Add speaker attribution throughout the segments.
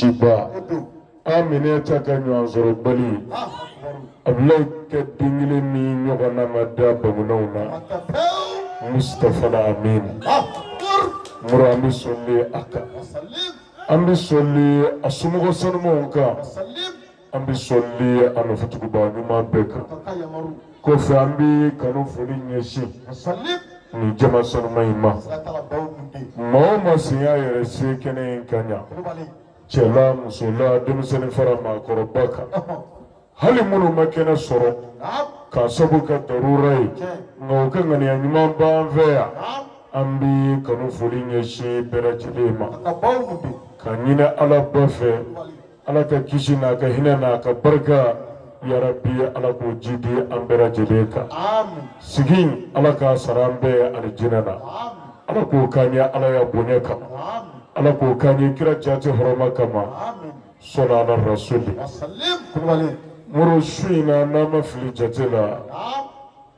Speaker 1: Siba Aminɛta ka ɲɔgɔn sɔrɔbali Abulayi ka den kelen min ɲɔgɔnna ma da bamananw na Musitafa Alamin muru an bɛ sɔli a kan an bɛ sɔli a somɔgɔ sanumanw kan an bɛ sɔli a nɔfɛtugubaa ɲuman bɛɛ kan kɔfɛ an bɛ kanu foli ɲɛsin nin jama sanuman in ma maa o maa sen y'a yɛrɛ se kɛnɛ in kan yan cɛla musola denmisɛnnin fara maakɔrɔba kan hali minnu ma kɛnɛ sɔrɔ k'a sabu kɛ darura ye nka u ka ŋaniya ɲuman b'an fɛ yan an bɛ kanu foli ɲɛsin bɛɛ lajɛlen ma k'a ɲini ala ba fɛ ala ka kisi n'a ka hinɛ n'a ka barika yarabi ala k'o jidi an bɛɛ lajɛlen kan sigi in ala k'a sara an bɛɛ alijinɛ na ala k'o k'an ye alaya bonya kama ala k'o k'an ye kira jati hɔrɔma kama sɔlu ala rasuli muru su in na n'an ma fili jate la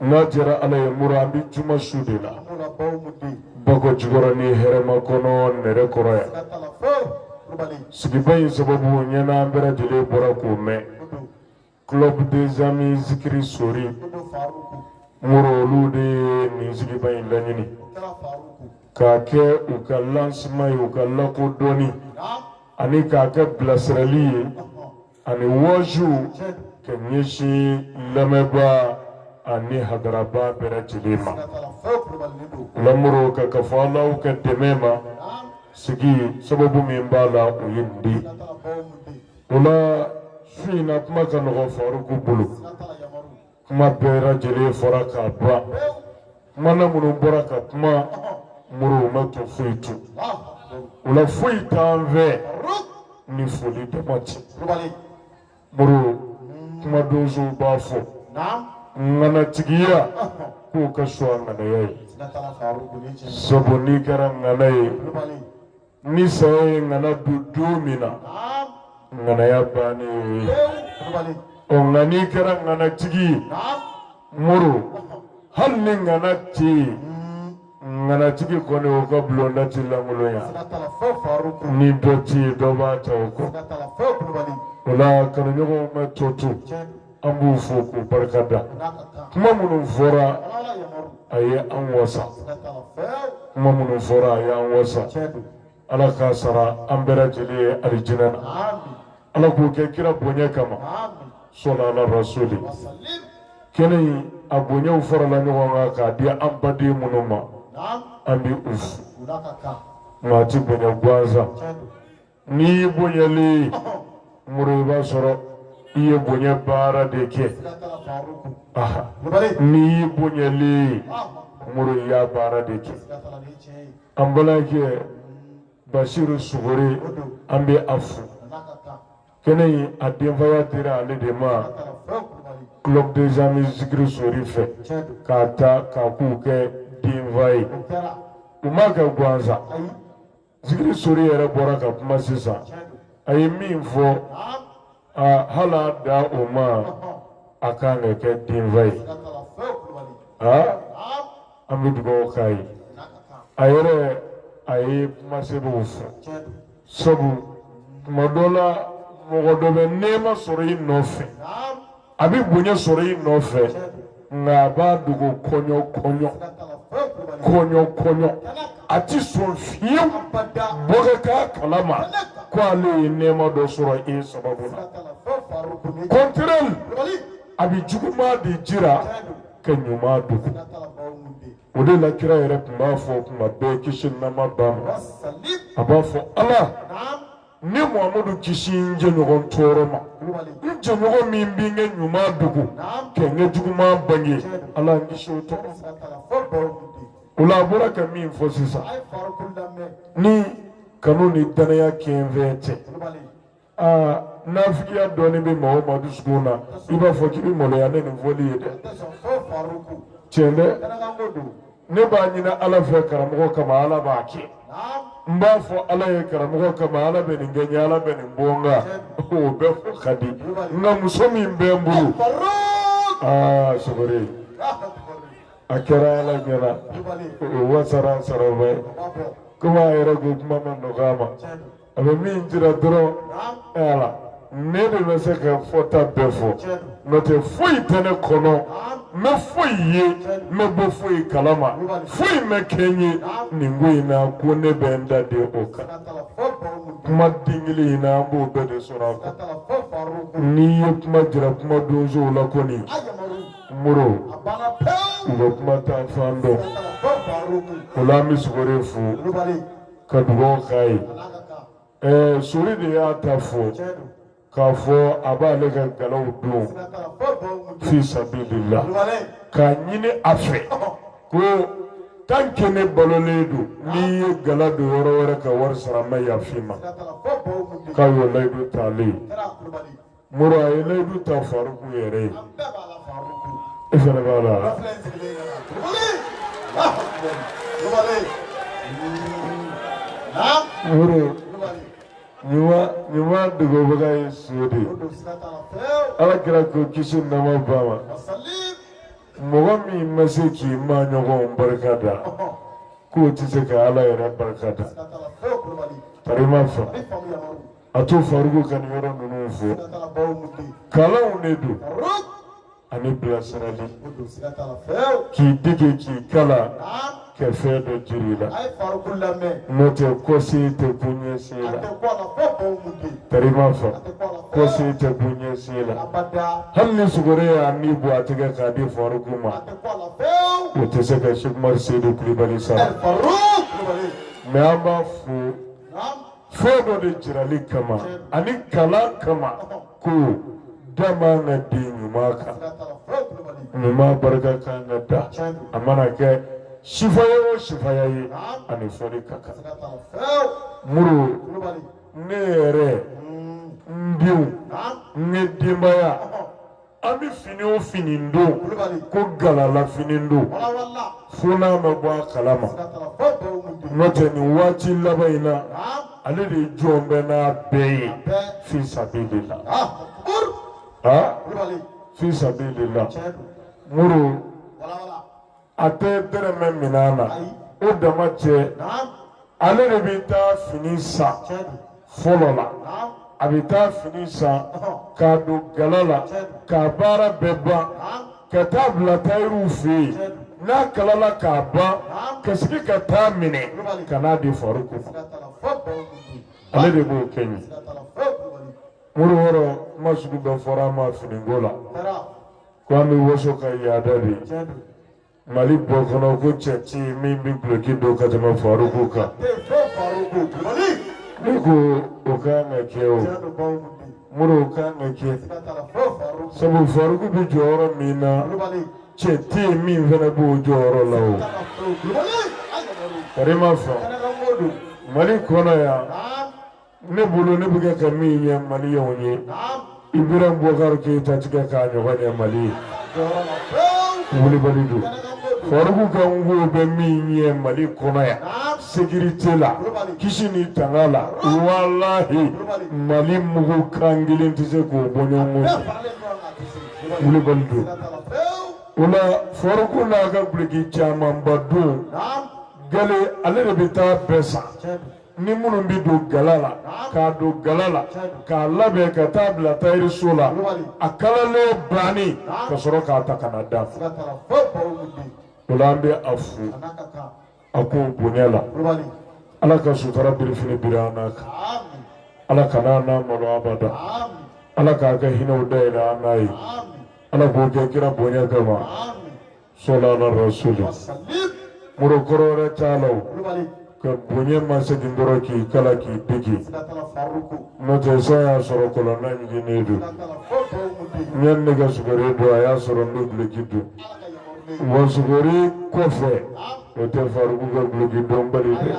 Speaker 1: N'a diyara ala ye muru an bɛ juma su de la Bakojikɔrɔni Hɛrɛmakɔnɔ Nɛrɛkɔrɔ yan sigiba in sababu ɲɛna an bɛɛ lajɛlen bɔra k'o mɛn club des amis zikiri sori muru olu de ye nin sigiba in laɲini k'a kɛ u ka lancement ye u ka lakodɔnni ani k'a kɛ bilasirali ye ani waaju k'a ɲɛsin lamɛnbaa ani hadarabaa bɛɛ lajɛlen ma lamuru ka ka fɔ alaw ka dɛmɛ ma sigi sababu min b'a la o ye nin de o la Fina kuma ka nɔgɔ faruku bolo kuma bɛɛ lajɛlen fɔra k'a ban kumana minnu bɔra ka kuma muru ma to foyi to o la foyi t'an fɛ ni foli dama tɛ muru kuma donso b'a fɔ ŋanatigiya k'o ka fisa ŋanaya ye sabu n'i kɛra ŋana ye ni saya ye ŋana dun don min na ŋanaya bannen ye ɔ nka n'i kɛra ŋanatigi ye muru hali ni ŋana tɛ yen ŋanatigi kɔni o ka bulonda tɛ lankolonya ni dɔ tɛ yen dɔ b'a ta o kɔ o la kanuɲɔgɔnw ma to to an b'u fo k'u barikada kuma minnu fɔra a ye an wasa kuma minnu fɔra a ye an wasa ala k'a sara an bɛɛ lajɛlen ye alijinɛ na ala k'o kɛ kira bonya kama sɔlu ala rasuli kɛnɛ in a bonyaw farala ɲɔgɔn kan k'a di an baden minnu ma an bɛ u fo maa tɛ bonya gansan n'i y'i bonyali muru i b'a sɔrɔ i ye bonya baara de kɛ n'i y'i bonyali muru i y'a baara de kɛ an balimakɛ basiru sugore an bɛ a fo kɛnɛ in a denfaya dira ale de ma club des amis zikiri sori fɛ k'a ta k'a k'u ka denfa ye u m'a kɛ gansan. Zikiri sori yɛrɛ bɔra ka kuma sisan a ye min fɔ aa hali a dan o ma a kan ka kɛ denfa ye aa an bɛ dugawu k'a ye a yɛrɛ a ye kuma sɛbɛnw fɔ sabu tuma dɔ la mɔgɔ dɔ bɛ nɛɛma sɔrɔ i nɔfɛ a bɛ bonya sɔrɔ i nɔfɛ nka a b'a dogo kɔɲɔ kɔɲɔ kɔɲɔ kɔɲɔ a tɛ sɔn fiyewu bɔ ka k'a kalama ko ale ye nɛɛma dɔ sɔrɔ e sababu la contraire a bɛ juguman de jira ka ɲuman dogo o de la kira yɛrɛ tun b'a fɔ tuma bɛɛ kisi nɛɛma b'a ma a b'a fɔ ala. ne muhamadu kisi n jɛɲɔgɔn tɔɔrɔ ma n jɛɲɔgɔn min bɛ n ka ɲuman dogo ka n ka juguman bange ala n kisi o tɔɔrɔ o la a bɔra ka min fɔ sisan ni kanu ni danaya kɛnfɛn tɛ aa nafigiya dɔɔnin bɛ maa o maa dusukun na i b'a fɔ k'i bɛ maloya ni nin fɔli ye dɛ tiɲɛ dɛ. ne b'a ɲini ala fɛ karamɔgɔ kama ala b'a kɛ n b'a fɔ ala ye karamɔgɔ kama ala bɛ nin kɛ n ye ala bɛ nin bɔ n kan o bɛɛ fɔ ka di nka muso min bɛ n bolo aa sogore a kɛra ala ɲɛna o wasara saraba ye komi a yɛrɛ ko kuma ma nɔgɔya a ma a bɛ min jira dɔrɔn ala ne de bɛ se ka fɔta bɛɛ fɔ n'o tɛ foyi tɛ ne kɔnɔ n ma foyi ye n ma bɔ foyi kalama foyi ma kɛ n ye nin ko in na ko ne bɛ n da de o kan kuma den kelen in na an b'o bɛɛ de sɔrɔ a kɔnɔ n'i ye kuma jira kuma donsow la kɔni moro u bɛ kuma ta fan dɔn o la an bɛ sogore fo. ka dugaw k'a ye ɛɛ sori de y'a ta fɔ k'a fɔ a b'ale ka galaw don fi sabilillah k'a ɲini a fɛ ko tant que ne balolen don n'i ye gala don yɔrɔ wɛrɛ ka wari sara n ma yafa i ma k'a y'o layidu t'ale ye muru a ye layidu ta faruku yɛrɛ ye i fana b'a la muru ɲuman dogobaga ye son de ala kira ko kisi nɛɛma b'a ma mɔgɔ min ma se k'i maɲɔgɔn barika da k'o tɛ se ka ala yɛrɛ barika da karima fa A to faruku ka nin yɔrɔ ninnu fɔ kalanw de don ani bilasirali k'i dege k'i kalan ka fɛn dɔ jira i la n'o tɛ ko si tɛ kun ɲɛ si la karima fa ko si tɛ kun ɲɛ si la hali ni sogo de ye an b'a tigɛ k'a di faruku ma o tɛ se ka sɛki umari seyidu kulubali sara mɛ an b'a fo fɛn dɔ de jirali kama ani kalan kama ko dama ka di ɲuman kan ɲuman barika kan ka da a mana kɛ sifaya o sifaya ye ani foli ka kan muru ne yɛrɛ n denw n ye denbaya an bɛ fini o fini don ko galala fini don fo n'a ma bɔ a kala ma n'o tɛ nin waati laban in na ale de jɔn bɛ n'a bɛɛ ye fi sabililahi fi sabililahi muru. a tɛ dɛrɛmɛ minɛ n na o dama cɛ ale de bɛ taa fini san fɔlɔ la a bɛ taa fini san k'a don gala la k'a baara bɛɛ ban ka taa bila tayɛriw fɛ yen n'a kalala k'a ban ka sigi ka taa minɛ ka n'a di faruku ma ale de b'o kɛ n ye muru o rɔ kuma sugu bɛɛ fɔra an ma finiko la. ko an bɛ waso ka yaada de maliba kɔnɔ ko cɛ tɛ yen min bɛ duloki don ka tɛmɛ faruku kan ne ko o ka kan ka kɛ o muru o ka kan ka kɛ sabu faruku bɛ jɔyɔrɔ min na cɛ tɛ yen min fana b'o jɔyɔrɔ la o karima fa mali kɔnɔ yan. ne bolo ne bɛ kɛ ka min ɲɛ mali ye o ye ibrahima bubakari keyita tɛ kɛ k'a ɲɔgɔn ɲɛ mali ye wulibali don faruku kanko bɛ min ɲɛ mali kɔnɔ yan sekirite la kisi ni tanga la walahi mali mugu kan kelen tɛ se k'o bɔ ɲɔgɔn kɔ wulibali don o la faruku n'a ka duloki camanba don gala ale de bɛ taa bɛɛ san ni minnu bɛ don gala la k'a don gala la k'a labɛn ka taa bila tayiriso la a kalalen bannen ka sɔrɔ k'a ta ka na da o la an bɛ a fo a k'o bonya la ala ka sutura birifini biri an n'a kan ala kana an n'a malo abada ala k'a ka hinɛw dayɛlɛ an n'a ye ala k'o kɛ kira bonya kama sɔla ala rasuli muru kɔrɔ wɛrɛ t'a la o ka bonya ma segin dɔrɔn k'i kala k'i digi n'o tɛ san y'a sɔrɔ kɔlɔnda ɲiginnen don yanni ne ka sugore dɔn a y'a sɔrɔ n bɛ duloki don wa sugore kɔfɛ o tɛ faruku ka duloki donbali dɛ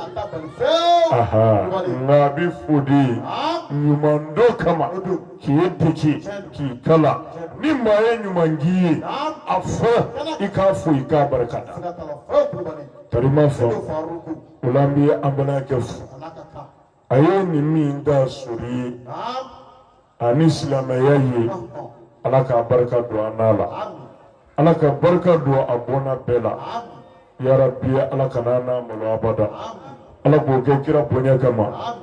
Speaker 1: nka a bɛ fo de ɲuman dɔ kama k'i digi k'i kala ni maa ye ɲuman k'i ye a fɔ i k'a fo i k'a barika da tari ma fɔ o la an bɛ an balimakɛ fo a ye nin min da sori ye ani silamɛya ye ala ka barika don an n'a la ala ka barika don a bɔnna bɛɛ la yarabi ala kana an n'a malo abada ala k'o kɛ kira bonya kama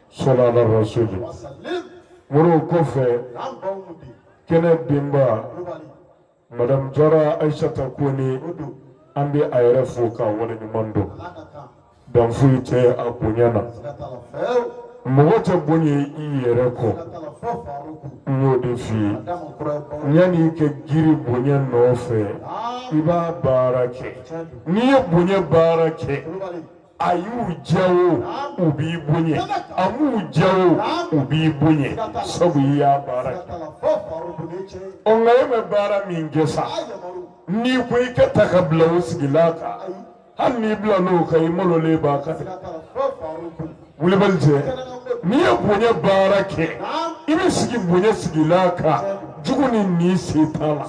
Speaker 1: sɔla ala rasuli wasalim muru o kɔfɛ n'an baw mun di kɛnɛ denba kulubali madamu jara ayisata kone o don an bɛ a yɛrɛ fo k'a waleɲuman dɔn ala ka kan dan foyi tɛ a bonya na siga t'a la fɛɛw mɔgɔ tɛ bonya i yɛrɛ kɔ siga t'a la fɔ faruku n y'o de f'i ye a da ma kura ye baw yanni i ka girin bonya nɔfɛ aa i b'a baara kɛ tiɲɛ don n'i ye bonya baara kɛ kulubali a y'u diya o u b'i bonya a m'u diya o u b'i bonya sabu i y'a baara kɛ ɔ nka e ma baara min kɛ sa n'i ko i ka ta ka bila o sigilan kan hali n'i bila n'o kan i malolen b'a kan dɛ wulibali cɛ n'i ye bonya baara kɛ i bɛ sigi bonya sigilan kan. jugu ni ɲin se t'a la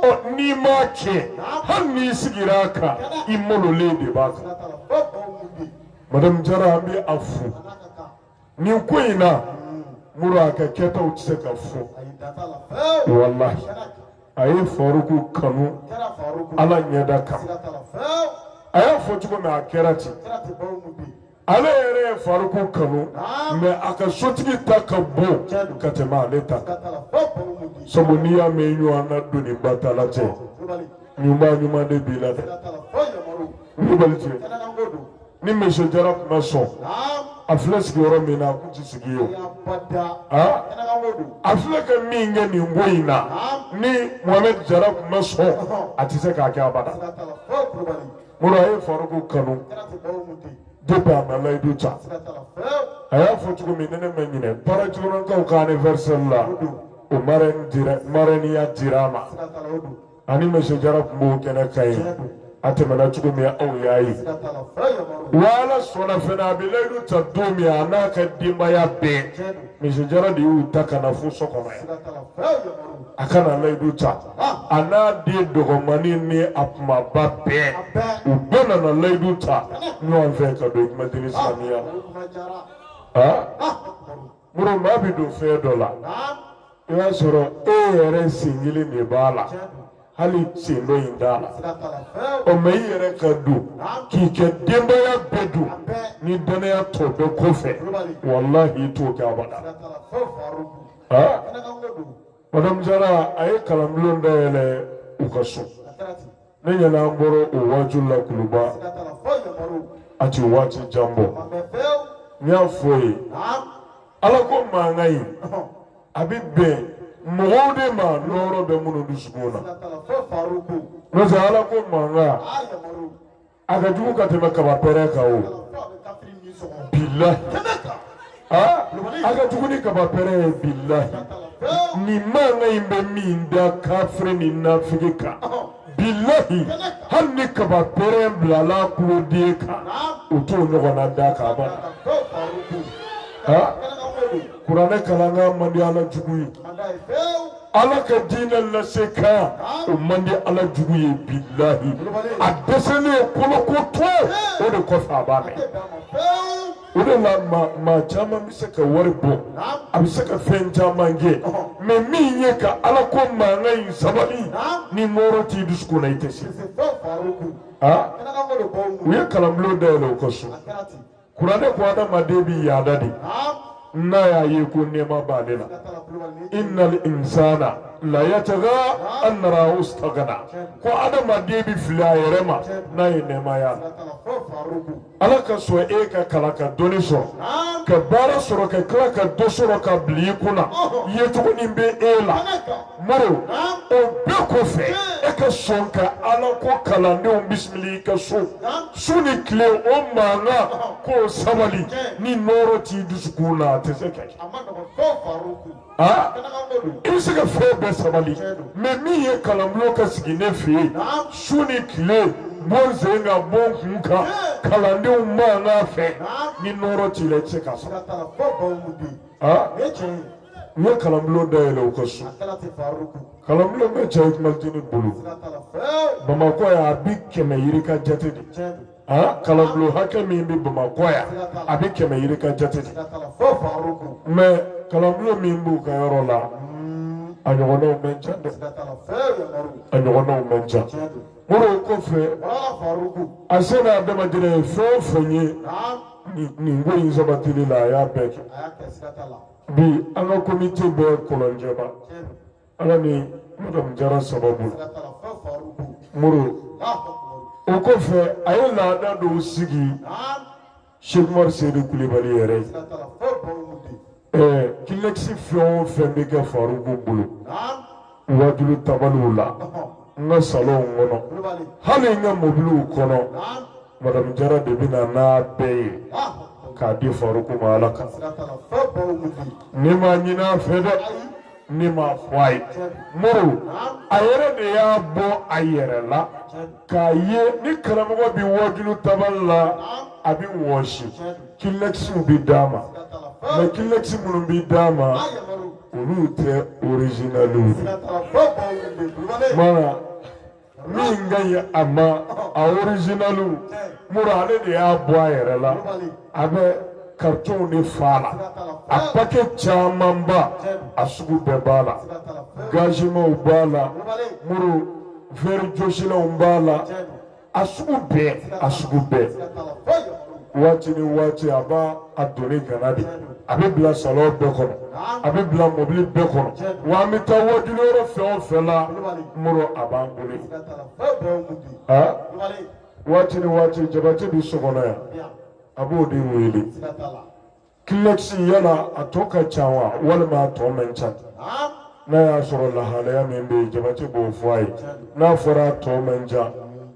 Speaker 1: ɔ n'i m'a kɛ hali n'i sigira a kan i malolen de b'a kan madamu jara an bɛ a fo nin ko in na muru a ka kɛtaw tɛ se ka fɔ walahi a ye faruku kanu ala ɲɛda kan a y'a fɔ cogo min a kɛra ten ale yɛrɛ ye faruku kanu mɛ a ka sotigi ta ka bon ka tɛmɛ ale ta kan sabu n'i y'a mɛn ɲɔgɔn na doni ba ta la cɛ ɲuman ɲuman de b'i la dɛ kulubali cɛ ni misiye jara tun ma sɔn a filɛ sigiyɔrɔ min na a tun tɛ sigi yen a filɛ ka min kɛ nin ko in na ni mohamɛdi jara tun ma sɔn a tɛ se k'a kɛ abada. muru a ye Faruku kanu depuis a ma layidu ta a y'a fɔ cogo min ne ne ma ɲinɛ para jikɔrɔnkaw ka anniversaire la o marrainenya dira a ma ani monsieur Jara tun b'o kɛnɛ kan yen a tɛmɛna cogo min aw y'a ye wa ala sɔnna fana a bɛ layidu ta don min a n'a ka denbaya bɛɛ monsieur Jara de y'u ta ka na fo so kɔnɔ yan a ka na layidu ta. a n'a den dɔgɔmani ni a kumaba bɛɛ u bɛɛ nana layidu ta ɲɔgɔn fɛ ka don kuma dini silamiya la muru maa bɛ don fɛn dɔ la i b'a sɔrɔ e yɛrɛ sen kelen de b'a la hali sen dɔ in t'a la ɔ mɛ i yɛrɛ ka don k'i ka denbaya bɛɛ don ni dannaya t'o bɛɛ kɔfɛ walahi i t'o kɛ abada. madame jara a ye kalanbulon dayɛlɛ u ka so ne ɲɛna an bɔra o waati la kuluba a tɛ waati jan bɔ n y'a fɔ i ye ala ko mankan in a bɛ bɛn mɔgɔw de ma nɔɔrɔ bɛ minnu dusukun na n'o tɛ ala ko mankan a ka jugu ka tɛmɛ kaba pɛrɛn kan o bilahi aa a ka jugu ni kaba pɛrɛn ye bilahi nin mankan in bɛ min da kafiri ni nafigi kan bilahi hali ni kaba pɛrɛn bilala kuloden kan o t'o ɲɔgɔnna da k'a ban aa kuranɛ kalankan man di ala jugu ye ala ka diinɛ lase kan o man di ala jugu ye bilahi a dɛsɛlen ye kolokoto o de kɔfɛ a b'a mɛn o de la maa caman bɛ se ka wari bɔ a bɛ se ka fɛn caman kɛ mɛ min ye ka ala ko mankan in sabali ni nɔɔrɔ t'i dusukun na i tɛ se aa u ye kalanbulon dayɛlɛ u ka so kuranɛ ko adamaden bi yaada de n'a y'a ye ko nɛɛma b'ale la innal insana la yataga an narahu stagana ko adamaden bi fili a yɛrɛ ma n'a ye nɛɛma y'a la ala ka sɔn e ka kalan ka dɔnni sɔrɔ ka baara sɔrɔ ka tila ka du sɔrɔ k'a bili i kunna yecogo nin bɛ e la moro o bɛɛ kɔfɛ e ka sɔn ka ala ko kalandenw bisimila i ka so su ni tile o mankan k'o sabali ni nɔɔrɔ t'i dusukun na a tɛ se ka kɛ i bɛ se ka fɛn bɛɛ sabali mɛ min ye kalanbulon ka sigi ne fɛ yen su ni tile bon sen kan bon kun kan kalandenw mankan fɛ ni nɔɔrɔ t'i la i tɛ se k'a sabali. aa u ye kalanbulon dayɛlɛ u ka so kalanbulon bɛ cɛ ikumatini bolo bamakɔ yan a bi kɛmɛ yirika jate de aa kalanbulon hakɛ min bɛ bamakɔ yan a bi kɛmɛ yirika jate de mɛ kalanbulon min b'u ka yɔrɔ la a ɲɔgɔnnaw man ca dɛ a ɲɔgɔnnaw man ca Moro kɔfɛ a se n'a damajira ye fɛn o fɛn ye nin ko in sabatili la a y'a bɛɛ kɛ bi an ka komite bɛ kɔlɔnjɛba ala ni madamu jara sababu moro o kɔfɛ a ye laada dɔw sigi Sekumaru Sedu Kulubali yɛrɛ ye. Ɛɛ kilɛkisi fɛn o fɛn bɛ kɛ Faruku bolo. Wajulu tabaliw la. N ka salonw kɔnɔ. Hali n ka mobiliw kɔnɔ. Madamu Jara de bɛ na n'a bɛɛ ye. K'a di Faruku ma Ala kama. Ne m'a ɲin'a fɛ dɛ. ne m'a fɔ a ye moro a yɛrɛ de y'a bɔ a yɛrɛ la k'a ye ni karamɔgɔ bɛ wajulu tabali la a bɛ wɔsi kilɛkisiw bɛ d'a ma mɛ kilɛkisi minnu bɛ d'a ma olu tɛ orizinaliw ye. min ka ɲi a ma a orizinali moro ale de y'a bɔ a yɛrɛ la a bɛ karitonw de fa la a pake camanba a sugu bɛɛ b'a la gazimaw b'a la moro vɛri jɔsilanw b'a la a sugu bɛɛ a sugu bɛɛ waati ni waati a b'a a doni gana de a bɛ bila salɔn bɛɛ kɔnɔ a bɛ bila mɔbili bɛɛ kɔnɔ wa an bɛ taa wajulu yɔrɔ fɛn o fɛn la moro a b'an bolo yen aa waati ni waati jabate bɛ so kɔnɔ yan a b'o de wele kilɛkisi yala a tɔ ka ca wa walima a tɔ man ca n'a y'a sɔrɔ lahalaya min bɛ yen jabate b'o fɔ a ye n'a fɔra a tɔ man ca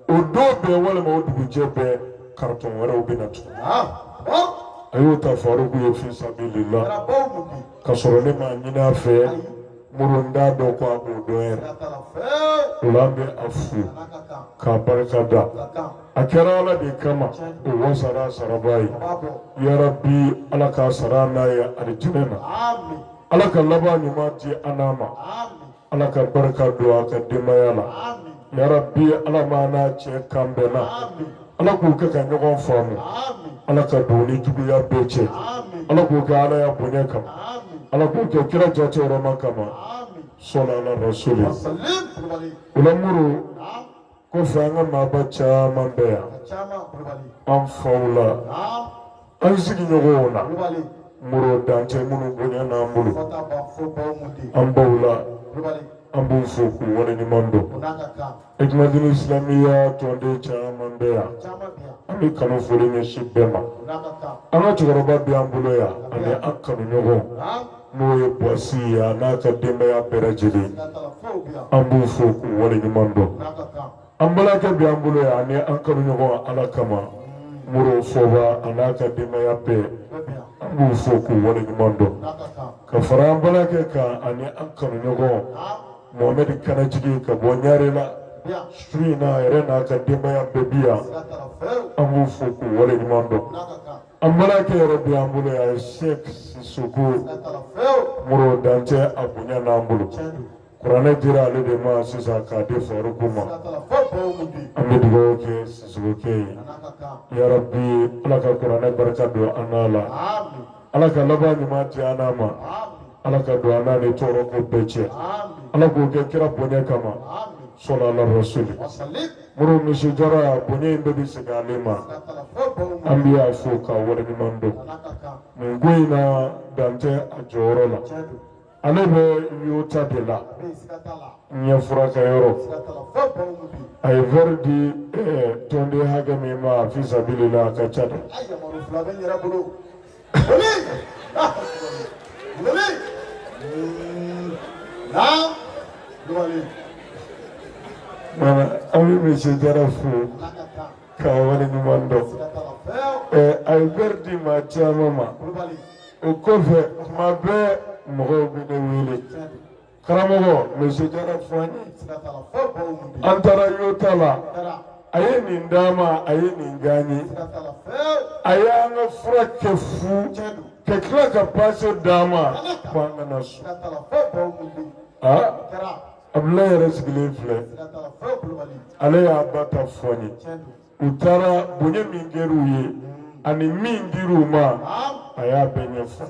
Speaker 1: o don bɛɛ walima o dugujɛ bɛɛ karitɔn wɛrɛw bɛ na tugun a y'o ta faruku ye fi sabilila ka sɔrɔ ne m'a ɲini a fɛ moro n t'a dɔn ko a b'o dɔn yɛrɛ o la an bɛ a fo k'a barika da a kɛra ala de kama o wa sara saraba ye yarabi ala k'a sara n'a ye alijinɛ na ala ka laban ɲuman di an n'a ma ala ka barika don a ka denbaya la yarabi ala m'a n'a cɛ kan bɛnna ala k'u kɛ ka ɲɔgɔn faamu ala ka don ni juguya bɛɛ cɛ ala k'o kɛ ala ya bonya kama ala k'o kɛ kira jate hɔrɔma kama sɔla ala rasuli o la moro kɔfɛ an ka maaba caman bɛ yan an faw la An sigiɲɔgɔnw na Moro dan tɛ minnu bonya n'an bolo an baw la an b'u fo k'u waleɲuman dɔn Hikmatini Isilamiya tɔnden caman bɛ yan an bɛ kanu foli ɲɛsin bɛɛ ma an ka cɛkɔrɔba bɛ an bolo yan ani an kanuɲɔgɔn n'o ye Buwasi ye a n'a ka denbaya bɛɛ lajɛlen an b'u fo k'u waleɲuman dɔn an balimakɛ bɛ an bolo yan ani an kanuɲɔgɔn ala kama moro fɔba a n'a ka denbaya bɛɛ an b'u fo k'u waleɲuman dɔn ka fara an balimakɛ kan ani an kanuɲɔgɔn mohamɛdi kanajigi ka bɔ ɲarela su in na a yɛrɛ n'a ka denbaya bɛɛ bi yan an b'u fo k'u waleɲuman dɔn an balimakɛ yɛrɛ bɛ an bolo yan sɛk sisoko moro dan tɛ a bonya n'an bolo kuranɛ dira ale de ma sisan k'a di faruku ma an bɛ dugawu kɛ sisokokɛ ye yarabi ala ka kuranɛ barika don an n'a la ala ka laban ɲuman di an n'a ma ala ka don an n'a ni tɔɔrɔ ko bɛɛ cɛ ala k'o kɛ kira bonya kama sɔlu ala rasuli moro misi jara bonya in bɛɛ bɛ segin ale ma an bɛ y'a fo k'a waleɲuman dɔn nin ko in na dan tɛ a jɔyɔrɔ la ale bɛ yota de la ɲɛ furakɛ yɔrɔ a ye verre di eh, tɔnden hakɛ min ma fi sabilila a ka ca dɛ Mana an bɛ misi jara fo k'a waleɲuman dɔn a ye verre di maa caman ma o kɔfɛ tuma bɛɛ mɔgɔw bɛ ne wele karamɔgɔ monsieur jara fɔ an ye sira t'a la fɔ baw mun bɛ an taara y'o ta la taara a ye nin d'a ma a ye nin gan ye sira t'a la fɛɛw a y'an ka fura kɛ fu cɛ don ka tila ka paase d'a ma ko an kana so sira t'a la fɔ baw mun bɛ a taara abudulayi yɛrɛ sigilen filɛ sira t'a la fɔ kulubali ale y'a ba ta fɔ n ye cɛ don u taara bonya min kɛra u ye ani min dira u ma a y'a bɛɛ ɲɛfɔ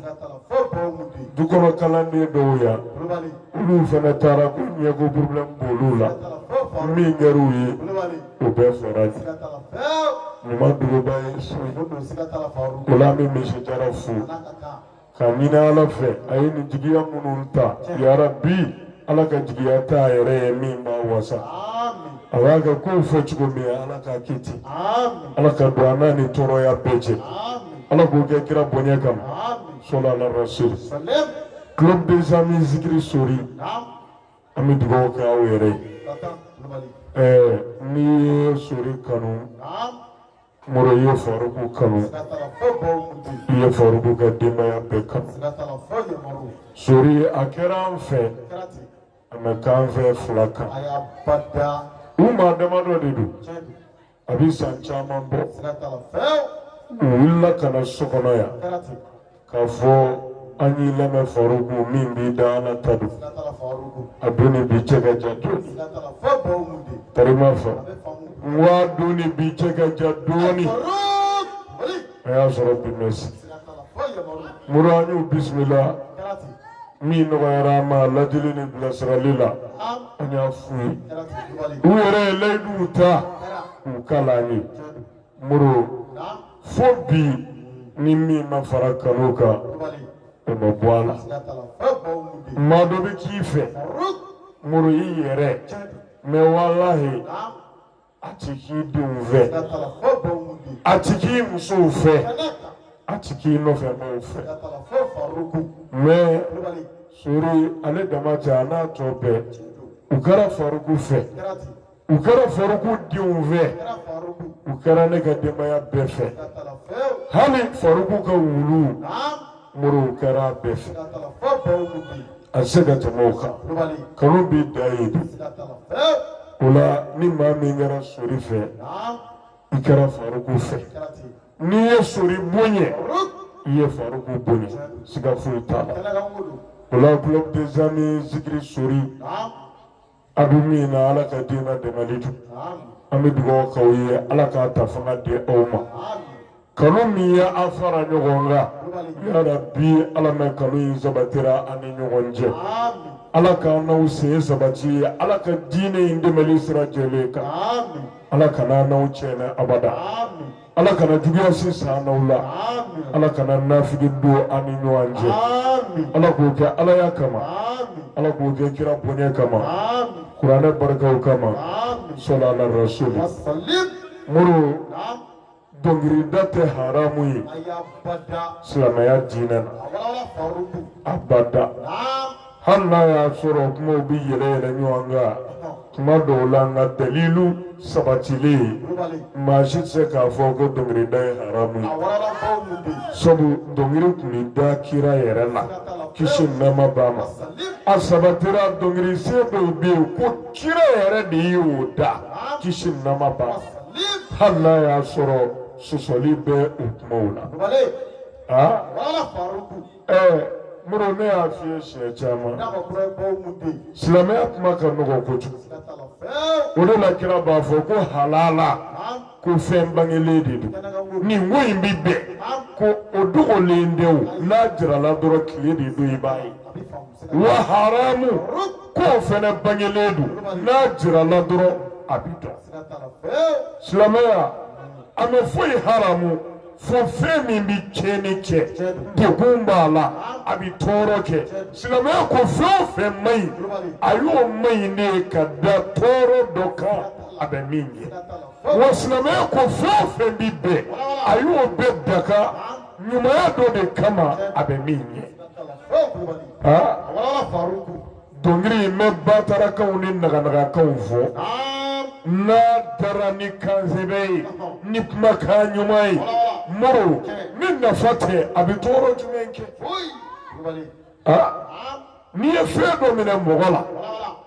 Speaker 1: du kɔnɔ kalanden dɔw yan olu fana taara ko ɲɛko problème b'olu la min kɛra u ye o bɛɛ fɔra de ɲuman duguba ye so o la an bɛ misi jara fo ka ɲini ala fɛ a ye nin jigiya minnu ta yarabi ala ka jigiya t'a yɛrɛ ye min b'a wasa a b'a ka kow fɔ cogo min ala k'a kɛ ten ala ka don an n'a ni tɔɔrɔya bɛɛ cɛ ala k'o kɛ kira bonya kama sɔlu ala rasul club des amis zikiri sori an bɛ dugawu kɛ aw yɛrɛ ye ɛɛ n'i ye sori kanu Muru i ye faruku kanu i ye faruku ka denbaya bɛɛ kanu sori a kɛra an fɛ a ma k'an fɛ fila kan u maa damadɔ de don a bɛ san caman bɔ u wulila ka na so kɔnɔ yan k'a fɔ an y'i lamɛn faruku min b'i da ala ta don a don ni bi cɛ ka jan dɔɔni tarima fa n ko a don ni bi cɛ ka jan dɔɔni a y'a sɔrɔ dimansi muru an y'u bisimila min nɔgɔyara an ma ladili ni bilasirali la an y'a f'u ye u yɛrɛ ye layiduw ta k'u kali an ye muru fo bi ni min ma fara kanu kan o ma bɔ a la maa dɔ bɛ k'i fɛ muru i yɛrɛ mɛ walahi a ti k'i denw fɛ a ti k'i musow fɛ a ti k'i nɔfɛ maaw fɛ mɛ sori ale dama tɛ a n'a tɔ bɛɛ u kɛra faruku fɛ. u kɛra faruku denw fɛ u kɛra ne ka denbaya bɛɛ fɛ hali faruku ka wulu muru u kɛra a bɛɛ fɛ a tɛ se ka tɛmɛ o kan kanu bɛ dan yen de o la ni maa min kɛra sori fɛ i kɛra faruku fɛ n'i ye sori bonya i ye faruku bonya siga foyi t'a la o la club des amis zikiri sori. a bɛ min na ala ka diinɛ dɛmɛli don an bɛ dugawu k'aw ye ala k'a ta fana di aw ma kanu min ye an fara ɲɔgɔn kan yarabi ala ma kanu in sabatira an ni ɲɔgɔn cɛ ala k'an n'aw sen sabati ye ala ka diinɛ in dɛmɛli sira jɛlen kan ala kan'an n'aw tiɲɛ abada ala kana juguya si s'an n'aw la ala kana nafigi don an ni ɲɔgɔn cɛ ala k'o kɛ alaya kama ala k'o kɛ kira bonya kama kuranɛ barikaw kama sɔla ala rasuli muru dɔnkilida tɛ haramu ye silamɛya diinɛ na abada hali n'a y'a sɔrɔ kumaw bɛ yɛlɛ yɛlɛ ɲɔgɔn kan kuma dɔw la nka dalilu sabatilen maa si tɛ se k'a fɔ ko dɔnkilida ye haramu ye sabu dɔnkili tun bɛ da kira yɛrɛ la kisi nɛɛma b'a ma a sabatira dɔnkili sen dɔw bɛ yen ko kira yɛrɛ de ye o da kisi nɛɛma b'a ma hali n'a y'a sɔrɔ sɔsɔli bɛ o kumaw la. ɛɛ moro ne y'a f'i ye siɲɛ caman silamɛya kuma ka nɔgɔ kojugu o de la kira b'a fɔ ko halala ko fɛn bangelen de don nin ko in bɛ bɛn ko o dogolen tɛ o n'a jirala dɔrɔn tile de don i b'a ye wa haramu k'o fana bangelen don n'a jirala dɔrɔn a bɛ dɔn silamɛya a ma foyi haramu. fo fɛn min bɛ tiɲɛni kɛ degun b'a la a bɛ tɔɔrɔ kɛ silamɛya ko fɛn o fɛn man ɲi a y'o man ɲi de ka da tɔɔrɔ dɔ kan a bɛ min ye wa silamɛya ko fɛn o fɛn bɛ bɛn a y'o bɛɛ daga ɲumanya dɔ de kama a bɛ min ye. dɔnkili in bɛ batarakanw ni naganagakanw fɔ n'a dara ni kansɛbɛ ye ni kumakan ɲuman ye moro ni nafa tɛ a bɛ tɔɔrɔ jumɛn kɛ n'i ye fɛn dɔ minɛ mɔgɔ la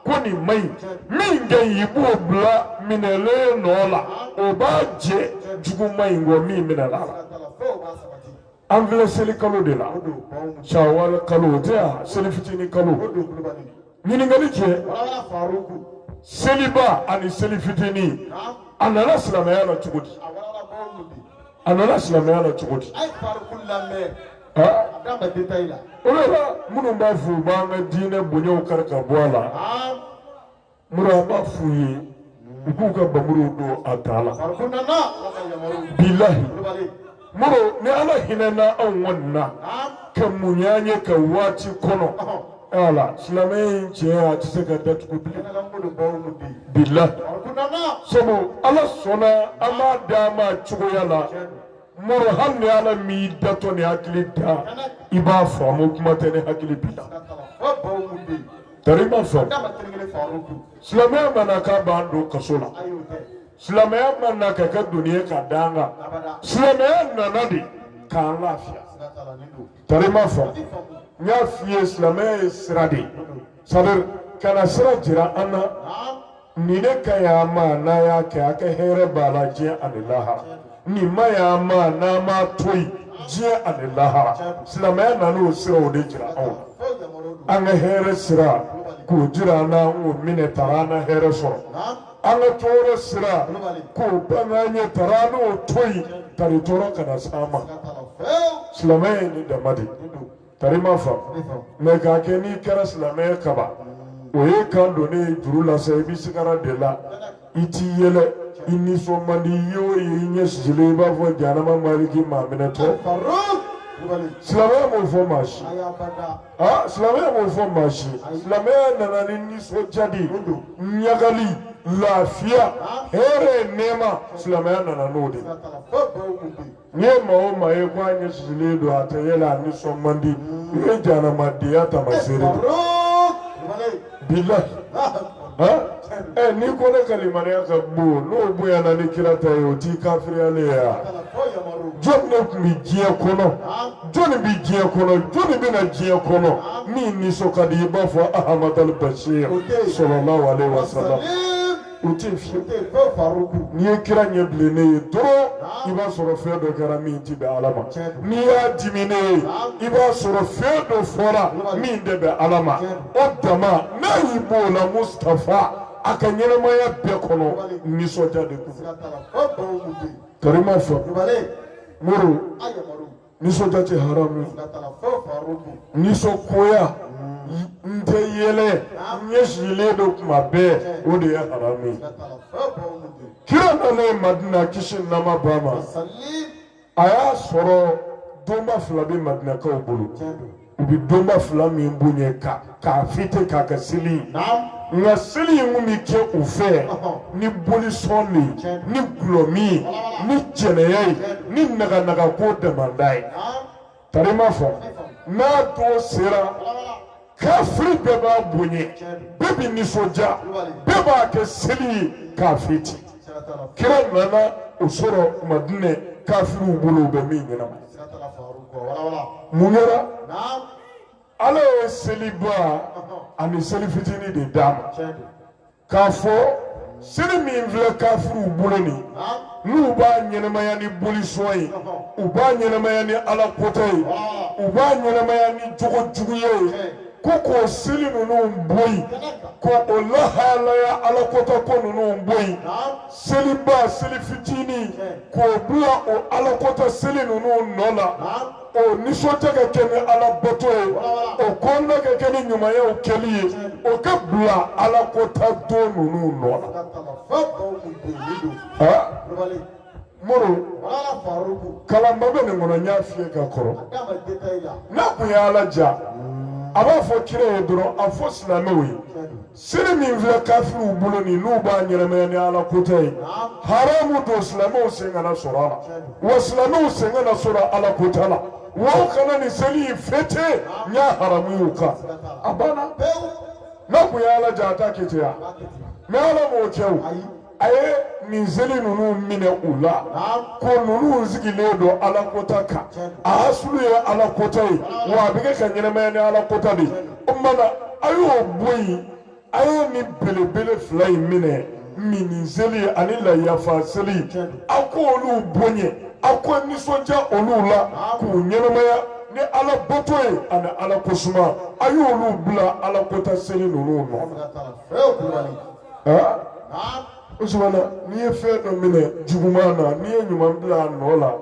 Speaker 1: ko nin man ɲi min ka ɲi i b'o bila minɛlen nɔ la o b'a jɛ juguman in kɔ min minɛn'a la. an filɛ seli kalo de la sawale kalo o tɛ yan seli fitinin kalo ɲininkali kɛ seliba ani seli fitinin a nana silamɛya la cogo di a nana silamɛya la cogo di o de la minnu b'a fɔ u b'an ka diinɛ bonyaw kari ka bɔ a la moro an b'a f'u ye u k'u ka bamuruw don a tan la bilahi moro ni ala hinɛna anw kɔni na ka muɲu an ye ka waati kɔnɔ ala silamɛya tiɲɛ a tɛ se ka datugu bilen bilahi sabu ala sɔnna an b'a d'a ma cogoya la moro hali ni ala m'i datɔ ni hakili da i b'a faamu kuma tɛ ni hakili b'i la tari i m'a faamu silamɛya ma na k'a b'an don kaso la silamɛya ma na ka kɛ doni ye ka d'an kan silamɛya nana de k'an lafiya tari i m'a faamu n y'a f'i ye silamɛya ye sira de ye sadiri ka na sira jira an na nin ne ka ɲ'a ma n'a y'a kɛ a ka hɛrɛ b'a la diɲɛ ani lahara nin man ɲ'a ma n'a m'a to yen diɲɛ ani lahara silamɛya nan'o siraw de jira anw na an ka hɛrɛ sira k'o jira an na k'o minɛ tari an na hɛrɛ sɔrɔ an ka tɔɔrɔ sira k'o bange an ye tari an n'o to yen tari tɔɔrɔ kana s'an ma silamɛya ye nin dama de ye Kari ma fa mɛ ka kɛ n'i kɛra silamɛ ye kaba o ye ka don ne juru lase i bɛ sigara de la i tɛ yɛlɛ i nisɔn man di i y'o ye i ɲɛsisilen i b'a fɔ janama maliki maa minɛtɔ silamɛya m'o fɔ maa si aa silamɛya m'o fɔ maa si silamɛya nana ni nisɔndiya de ɲagali lafiya hɛrɛ nɛɛma silamɛya nana n'o de N'i ye maa o maa ye ko a ɲɛsisilen don a tɛ yɛlɛ a nisɔn man di i ye janamadenya tamaseere de ye. bilahi han ɛ n'i ko ne ka limaniya ka bon n'o bonyana ni kira ta ye o t'i kafiriyalen ye wa jɔni de tun bɛ diɲɛ kɔnɔ jɔni bɛ diɲɛ kɔnɔ jɔni bɛ na diɲɛ kɔnɔ min nisɔn ka di i b'a fɔ ahamadal bashir sɔlɔlahu alehi wasalam. o tɛ fiye tɛ fɛn faruku n'i ye kira ɲɛ bilennen ye dɔrɔn i b'a sɔrɔ fɛn dɔ kɛra min tɛ bɛn ala ma n'i y'a diminen ye i b'a sɔrɔ fɛn dɔ fɔra min tɛ bɛn ala ma o dama n'a y'i b'o la mustapha a ka ɲɛnamaya bɛɛ kɔnɔ nisɔndiya de kun karima fɔ mori nisɔndiya tɛ haramu ye nisɔngoya n tɛ yɛlɛ n ɲɛsisilen don kuma bɛɛ o de ye haramu ye kira nanen madina kisi ni nɛɛma b'a ma a y'a sɔrɔ donba fila bɛ madinakaw bolo u bɛ donba fila min bonya ka k'a fɛte k'a kɛ seli ye nka seli in kun bɛ kɛ u fɛ ni bolisɔn de ye ni gulɔmin ye ni jɛnɛya ye ni naganagako daman de ye tari ma fɔ n'a don sera kafiri bɛɛ b'a bonya bɛɛ bɛ nisɔndiya bɛɛ b'a kɛ seli ye k'a fɛte kira nana o sɔrɔ madina kafiriw bolo u bɛ min ɲɛnamaya mun kɛra ala ye seliba ani seli fitinin de d'a ma k'a fɔ seli min filɛ kafiriw bolo nin n'u b'a ɲɛnamaya ni bolisɔn ye u b'a ɲɛnamaya ni ala kota ye u b'a ɲɛnamaya ni jogojuguya ye ko k'o seli ninnu bɔ yen ko o lahalaya ala kota ko ninnu bɔ yen seliba seli fitinin k'o bila o alakota seli ninnu nɔ la o nisɔndiya ka kɛ ni ala bato ye o kɔnɔna ka kɛ ni ɲumanyaw kɛli ye o ka bila alakota don ninnu nɔ la. moro kalanba bɛ nin kɔnɔ n y'a fiyɛ ka kɔrɔ n'a kun ye ala diya a b'a fɔ kira ye dɔrɔn a fɔ silamɛw ye. Seli min filɛ kafiriw bolo nin n'u b'a ɲɛnamaya ni ala kota ye haramu don silamɛw sen kana sɔrɔ a la wa silamɛw sen kana sɔrɔ ala kota la wa u kana nin seli in fete n y'a haramuya u kan a banna n'a kun ye ala diya a t'a kɛ ten wa mais ala m'o kɛ o a ye nin seli ninnu minɛ u la ko ninnu sigilen don ala kota kan a hasulu ye ala kota ye wa a bɛ kɛ ka ɲɛnamaya ni ala kota de ye o tuma na a y'o bɔ yen a ye nin belebele fila in minɛ minni seli ani layafa seli a ko olu bonya a ko nisɔndiya olu la k'u ɲɛnamaya ni ala bato ye ani ala ko suma a y'olu bila ala kota seli ninnu nɔ aa usumana n'i ye fɛn dɔ minɛ juguman na n'i ye ɲuman bila a nɔ la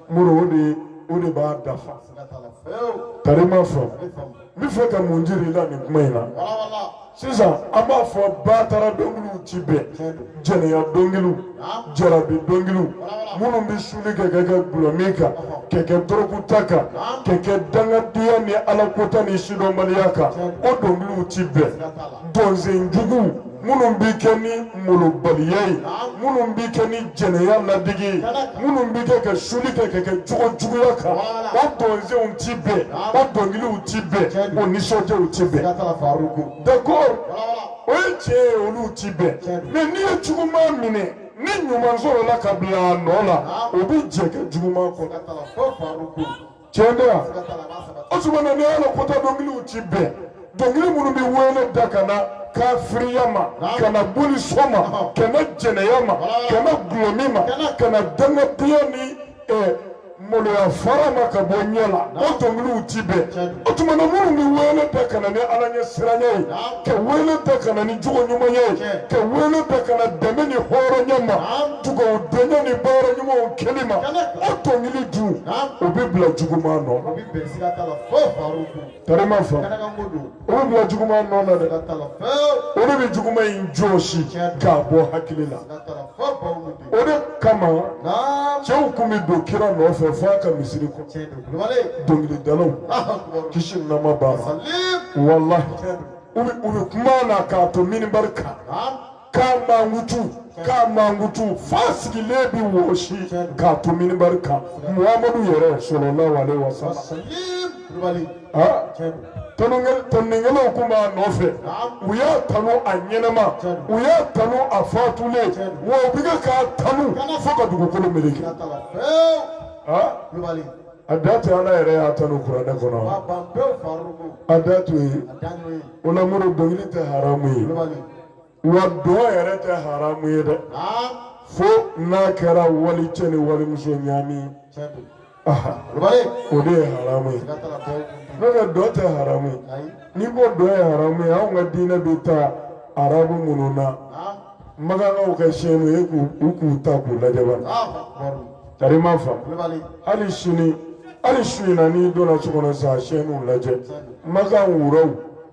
Speaker 1: mori o de b'a dafa kari ma fɔ n bɛ fɛ ka mun jir'i la nin kuma in na sisan an b'a fɔ batara dɔnkiliw ti bɛn jɛnɛya dɔnkiliw jarabi dɔnkiliw minnu bɛ suli kɛ ka kɛ gulɔmin kan ka kɛ dɔrɔguta kan ka kɛ dangadenya ni alakota ni sidɔnbaliya kan o dɔnkiliw ti bɛn dɔnsen juguw minnu bɛ kɛ ni molobaliya ye minnu bɛ kɛ ni jɛnɛya ladege ye minnu bɛ kɛ ka suli kɛ ka kɛ jogo juguya kan o dɔnsenw ti bɛn o dɔnkiliw ti bɛn o nisɔndiyaw ti bɛn d'accord o ye tiɲɛ ye olu ti bɛn mais n'i ye juguman minɛ ni ɲuman sɔrɔla ka bila a nɔ la o bɛ jɛ kɛ juguman kɔnɔ tiɲɛ tɛ wa usumana ni ala kota dɔnkiliw ti bɛn dɔnkili minnu bɛ wele da ka na kafiriya ma ka na bolisɔn ma ka na jɛnɛya ma ka na gulɔmin ma ka na dangadenya ni maloya fara ma ka bɔ ɲɛ la o dɔnkiliw ti bɛn o tuma na minnu bɛ wele bila ka na ni ala ɲɛ siranya ye ka wele bila ka na ni jogo ɲuman ye ka wele bila ka na dɛmɛ ni hɔrɔnya ma dugawudenya ni baara ɲumanw kɛli ma o dɔnkili dun o bɛ bila juguman nɔ Kari ma fɔ olu bila juguman nɔ na dɛ olu bɛ juguman in jɔsi k'a bɔ hakili la o de kama cɛw kun bɛ don kira nɔfɛ fo a ka misiri kɔ dɔnkilidalaw kisi ni nɛɛma b'a la walahi u bɛ kuma na k'a to minibari kan k'a mankutu k'a mankutu f'a sigilen bi wɔsi k'a to minibari kan muhamadu yɛrɛ salalahu alayihi wasalam. tanunikɛlaw tun b'a nɔfɛ u y'a tanu a ɲɛnama u y'a tanu a fatulen wa u bɛ kɛ k'a tanu fo ka dugukolo meleke. a da tɛ ala yɛrɛ y'a tanu kuranɛ kɔnɔ a da to yen o la moro dɔnkili tɛ haramu ye. wa dɔn yɛrɛ tɛ haramu ye dɛ fo n'a kɛra walicɛ ni walimuso ɲaami o de ye haramu ye nka dɔn tɛ haramu ye n'i ko dɔn ye haramu ye anw ka diinɛ bɛ taa arabu minnu na makankaw ka siyɛnnu ye k'u k'u ta k'u lajɛ ba karima fa hali sini hali su in na n'i donna so kɔnɔ sa siyɛnnu lajɛ makan wuraw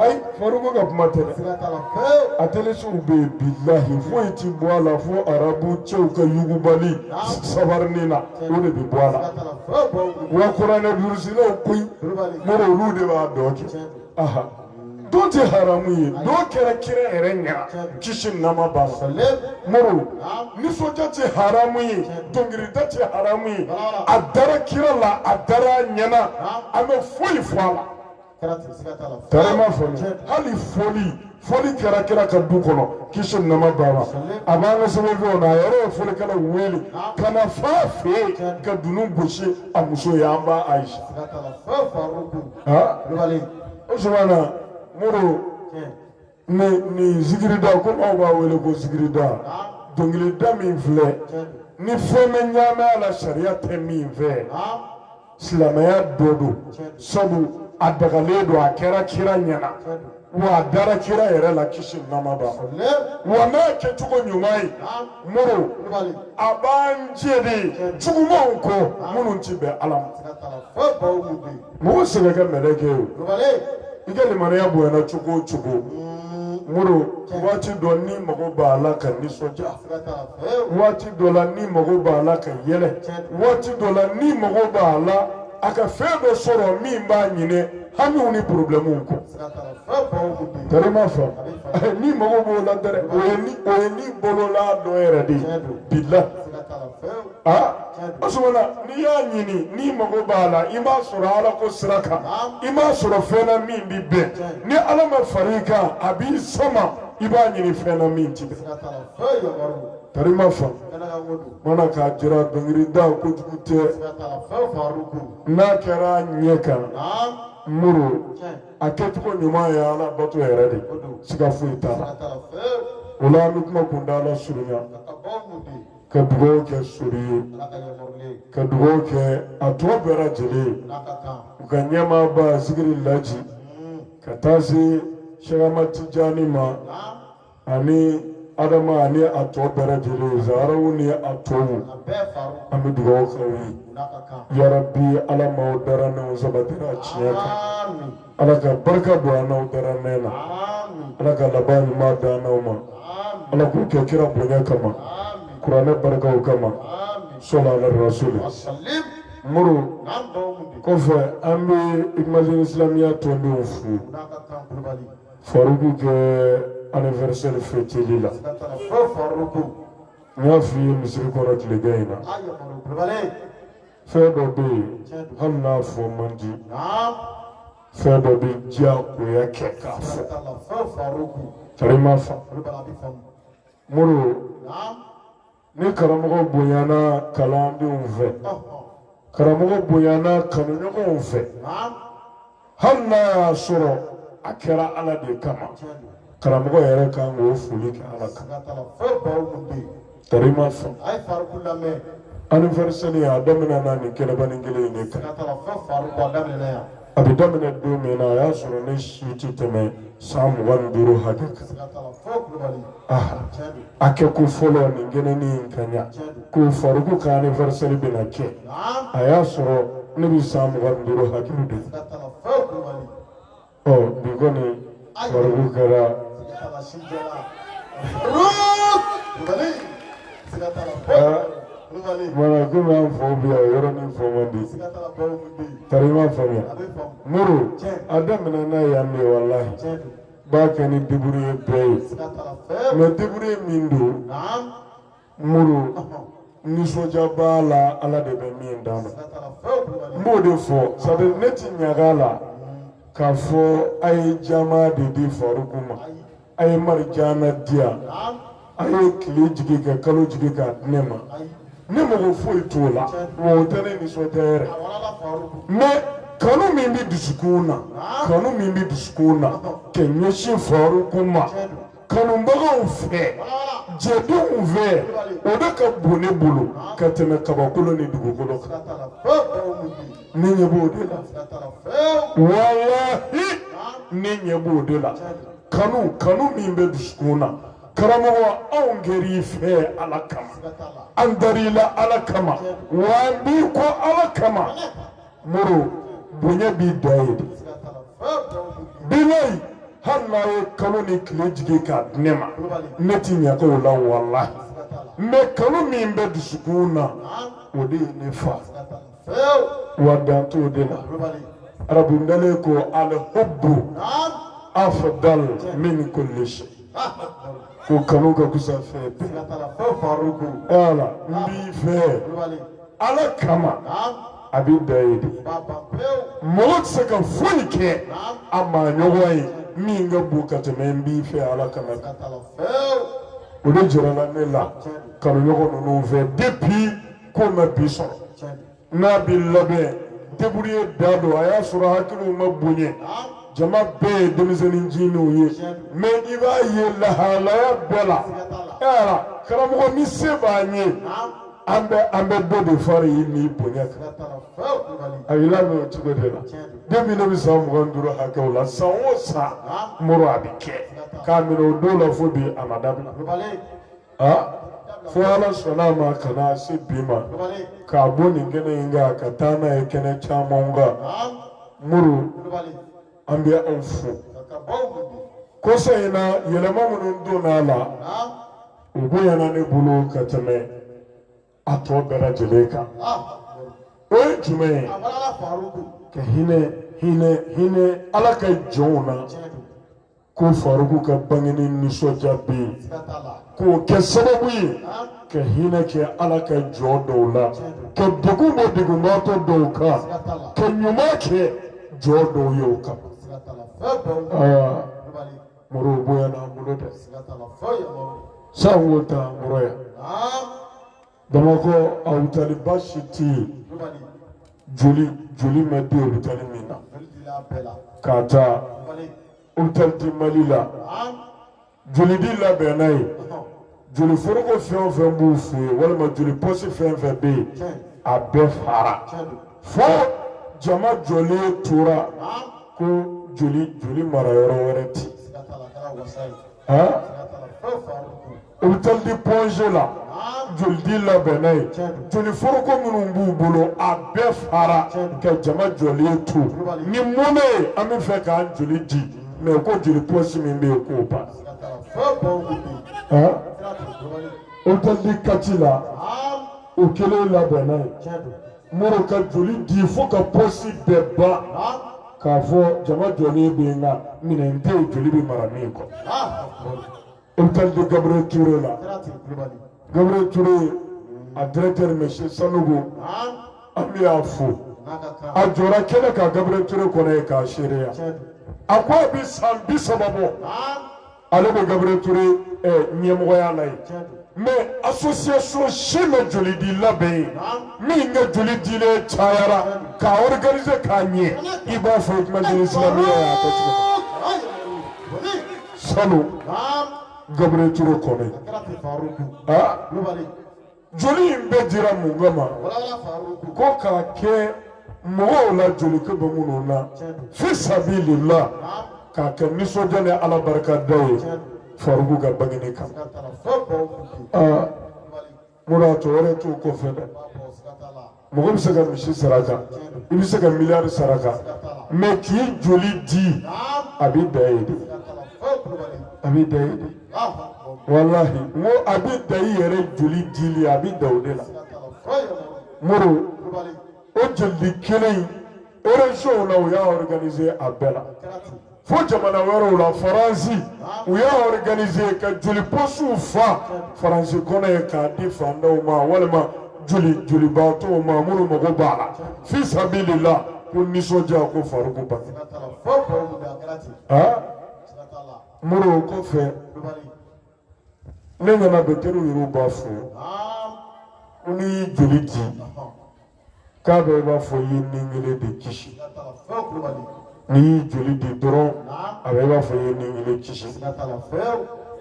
Speaker 1: ayi faruko ka kuma tɛ dɛ a tɛlisiw bɛ yen bilahi foyi ti bɔ a la fo arabu cɛw ka yugubali sabarini na o de bɛ bɔ a la wa kuranɛ durusilaw koyi moro olu de b'a dɔn kɛ aha dɔn tɛ haramu ye dɔn kɛra kira yɛrɛ ɲɛna kisi ni nɛɛma b'a ma moro nisɔndiya tɛ haramu ye dɔnkilida tɛ haramu ye a dara kira la a dara a ɲɛna a ma foyi fɔ a la. karima fa hali fɔli fɔli kɛra kira ka du kɔnɔ kisi ni nɛɛma b'a ma a b'an ka sɛbɛnfɛnw na a yɛrɛ ye fɔlikɛlaw wele ka na fɔ a fɛ yen ka dunun gosi a muso ye an ba ayisa usumana moro nin zikirida komi aw b'a wele ko zikirida dɔnkilida min filɛ ni fɛn ma ɲaami a la sariya tɛ min fɛ silamɛya dɔ don sabu a dagalen don a kɛra kira ɲɛna wa a dara kira yɛrɛ la kisi ni nɛɛma b'a ma wa n'a kɛcogo ɲuman ye moro a b'an jɛn de jugumanw kɔ minnu ti bɛn ala ma mɔgɔ si tɛ kɛ mɛlɛkɛ ye i ka limaniya bonyana cogo o cogo moro waati dɔ ni mago b'a la ka nisɔndiya waati dɔ la ni mago b'a la ka yɛlɛ waati dɔ la ni mago b'a la a ka fɛn dɔ sɔrɔ min b'a ɲinɛ hamiw ni porobilɛmuw kɔ karima fa ni mago b'o la dɛrɛ o ye ni bolola dɔ yɛrɛ de ye bilahi asumana n'i y'a ɲini ni mago b'a la i m'a sɔrɔ ala ko sira kan i m'a sɔrɔ fɛn na min bi bɛn ni ala ma fara i kan a b'i sama i b'a ɲini fɛn na min ti bɛn karima fa mana k'a jira dɔnkilida kojugu tɛ. n'a kɛra ɲɛ kan muru a kɛcogo ɲuman ye ala bato yɛrɛ de siga foyi t'a la o la an bɛ kuma kuntaala surunya ka dugawu kɛ sori ye ka dugawu kɛ a tɔ bɛɛ lajɛlen u ka ɲɛmaaba zikiri laji ka taa se sɛgɛma tijani ma ani adama ani a tɔ bɛɛ lajɛlen zaraw ni a tɔw an bɛ dugawu k'aw ye yarabi ala m'aw dara n'aw sabatira tiɲɛ kan ala ka barika don an n'aw dara mɛn na ala ka laban ɲuman d'an n'aw ma ala k'o kɛ kira bonya kama kuranɛ barikaw kama sɔla ala rasuli muru kɔfɛ an bɛ imajini silamɛya tɔndenw fo faruku ka anniversaire fêteli la n y'a f'i ye misiri kɔrɔ tilegan in na fɛn dɔ bɛ yen hali n'a fɔ man di fɛn dɔ bɛ diyagoya kɛ k'a fɔ karima fa muru ni karamɔgɔ bonyana kalandenw fɛ karamɔgɔ bonyana kanuɲɔgɔnw fɛ hali n'a y'a sɔrɔ a kɛra ala de kama karamɔgɔ yɛrɛ kan k'o foli kɛ ala kan karima fa anniversaire a daminɛna nin kɛnɛbanin kelen in de kan a bɛ daminɛ don min na a y'a sɔrɔ ne si tɛ tɛmɛ san mugan ni duuru hakɛ kan a kɛko fɔlɔ nin kɛnɛnin in kan yan ko faruku ka anniversaire bɛna kɛ a y'a sɔrɔ ne bɛ san mugan ni duuru hakɛ de ɔ bi kɔni Faruk Kara. Mara ko b'a fɔ bi a yɔrɔ min fɔ man di tari ma faamuya muru a daminɛ n'a ye yan de walahi b'a kɛ ni diburu ye bɛɛ ye mɛ diburu ye min don muru nisɔndiya b'a la ala de bɛ min d'a ma n b'o de fɔ sabu ne ti ɲaga la k'a fɔ a ye jama de di faruku ma a ye marijana di yan a ye tile jigin ka kalo jigin k'a di ne ma ne mago foyi t'o la wa o tɛ ne nisɔndiya yɛrɛ mais kanu min bɛ dusukun na kanu min bɛ dusukun na ka ɲɛsin faruku ma. kanubagaw fɛ jɛdenw fɛ o de ka bon ne bolo ka tɛmɛ kabakolo ni dugukolo kan ne ɲɛ b'o de la walahi ne ɲɛ b'o de la kanu kanu min bɛ dusukun na karamɔgɔ anw kɛr'i fɛ ala kama an dar'i la ala kama wa an b'i kɔ ala kama muru bonya b'i da ye de bilayi hali n'a ye kalo ni tile jigin k'a di ne ma ne ti ɲaga o la walahi mɛ kanu min bɛ dusukun na o de ye ne fa wa dan t'o de la arabu ntalen ko alhubbu afdal min kulli shay ko kanu ka kusa fɛn bɛɛ. Ala n b'i fɛ. ala kama a bɛ da ye de mɔgɔ tɛ se ka foyi kɛ a maa ɲɔgɔn ye min ka bon ka tɛmɛ n b'i fɛ ala kama o de jirala ne la kanuɲɔgɔn ninnu fɛ depuis ko ma bi sɔrɔ n'a bɛ labɛn débrouiller da don a y'a sɔrɔ hakiliw ma bonya jama bɛɛ ye denmisɛnnin jiniw ye mɛ i b'a ye lahalaya bɛɛ la karamɔgɔ ni se b'an ye an bɛ dɔ de fara i ni bonya kan a y'i lamɛn o cogo de la depuis ne bɛ san mugan duuru hakɛw la san o san muru a bɛ kɛ k'a minɛ o don la fo bi a ma dabila aa fo ala sɔnna a ma ka na se bi ma k'a bɔ nin kɛnɛ in kan ka taa n'a ye kɛnɛ caman kan muru an bɛ aw fo kɔsa in na yɛlɛma minnu donna a la o bonyana ne bolo ka tɛmɛ a tɔ bɛɛ lajɛlen kan o ye jumɛn ye ka hinɛ hinɛ hinɛ ala ka jɔnw na ko faruku ka bangeni nisɔndiya bɛ yen k'o kɛ sababu ye ka hinɛ kɛ ala ka jɔn dɔw la ka degun bɔ degunbaatɔ dɔw kan ka ɲuman kɛ jɔn dɔw ye o kan. moro bonyana n bolo dɛ san o ta moro yan bamakɔ a hôpital ba si tɛ yen joli joli ma di hôpital min na k'a ta hôpital du mali la joli di labɛnna yen. joli foroko fɛn o fɛn b'u fɛ yen walima joli pɔsi fɛn fɛn bɛ yen a bɛɛ fara fo jama jɔlen tora ko joli joli mara yɔrɔ wɛrɛ tɛ hôpital du point g la joli di labɛnna yen joli foroko minnu b'u bolo a bɛɛ fara ka jama jɔlen to ni mun bɛ yen an bɛ fɛ k'an joli di mɛ ko joli pɔsi min bɛ yen k'o ban. hôpital de kati la o kelen labɛnna yen moro ka joli di fo ka pɔsi bɛɛ ban k'a fɔ jama jɔlen bɛ yen nka minɛn tɛ yen joli bɛ mara min kɔ hôpital du gabriel touré la. Gabriel Touré a directeur monsieur Sanogo an b'a fo a jɔra kɛnɛ kan Gabriel Touré kɔnɔ yen k'a seereya a ko a bɛ san bi saba bɔ ale bɛ Gabriel Touré ɲɛmɔgɔya la yen mais association si ma joli di labɛn yen min ka joli dilen cayara k'a organiser k'a ɲɛ i b'a fɔ Hikmatul Islamiya y'a kɛ cogo min sanu. Gabriel Toure kɔnɔ yen. Joli in bɛɛ dira mun kama? Ko k'a kɛ mɔgɔw la joli ko bɛ minnu na. Fi sabilila k'a kɛ nisɔndiya ni Ala barika da ye Faruku ka bangeni kan. Moro a tɔ wɛrɛ t'o kɔfɛ dɛ mɔgɔ bɛ se ka misi saraka i bɛ se ka miliyari saraka mɛ k'i joli di a bɛ dan yen de a bɛ dan yen de walahi n ko a bɛ dan i yɛrɛ joli dili a bɛ dan o de la Moro o joli kelen in erezɔnw la u y'a organise a bɛɛ la. fo jamana wɛrɛw la faransi u y'a organise ka joli pɔsiw fa faransi kɔnɔ yen k'a di fandaw ma walima joli jolibaatɔw ma minnu mago b'a la fi sabilila ko nisɔndiya ko faruku bange Moro o kɔfɛ ne ɲɛ na dɔkitɛriw yɛrɛ b'a fɔ ko n'i y'i joli di k'a bɛ i b'a fɔ i ye ni kelen de kisi n'i y'i joli di dɔrɔn a bɛ i b'a fɔ i ye ni kelen kisi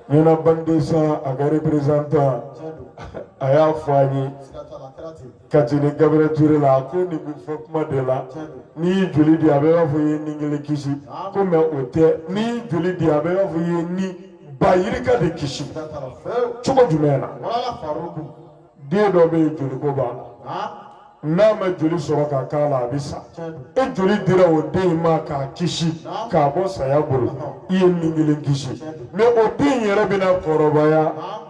Speaker 1: ɲinan banque de sang a ka reperezantan a y'a fɔ an ye. Kati ni Gabriel Touré la a ko nin bɛ fɔ kuma de la n'i y'i joli di a bɛ i b'a fɔ i ye ni kelen kisi ko mɛ o tɛ n'i y'i joli di a bɛ i b'a fɔ i ye ni ba yirika de kisi cogo jumɛn na den dɔ bɛ yen joli ko b'a la n'a ma joli sɔrɔ ka k'a la a bɛ sa e joli dira o den in ma k'a kisi k'a bɔ saya bolo i ye ni kelen kisi mɛ o den in yɛrɛ bɛna kɔrɔbaya.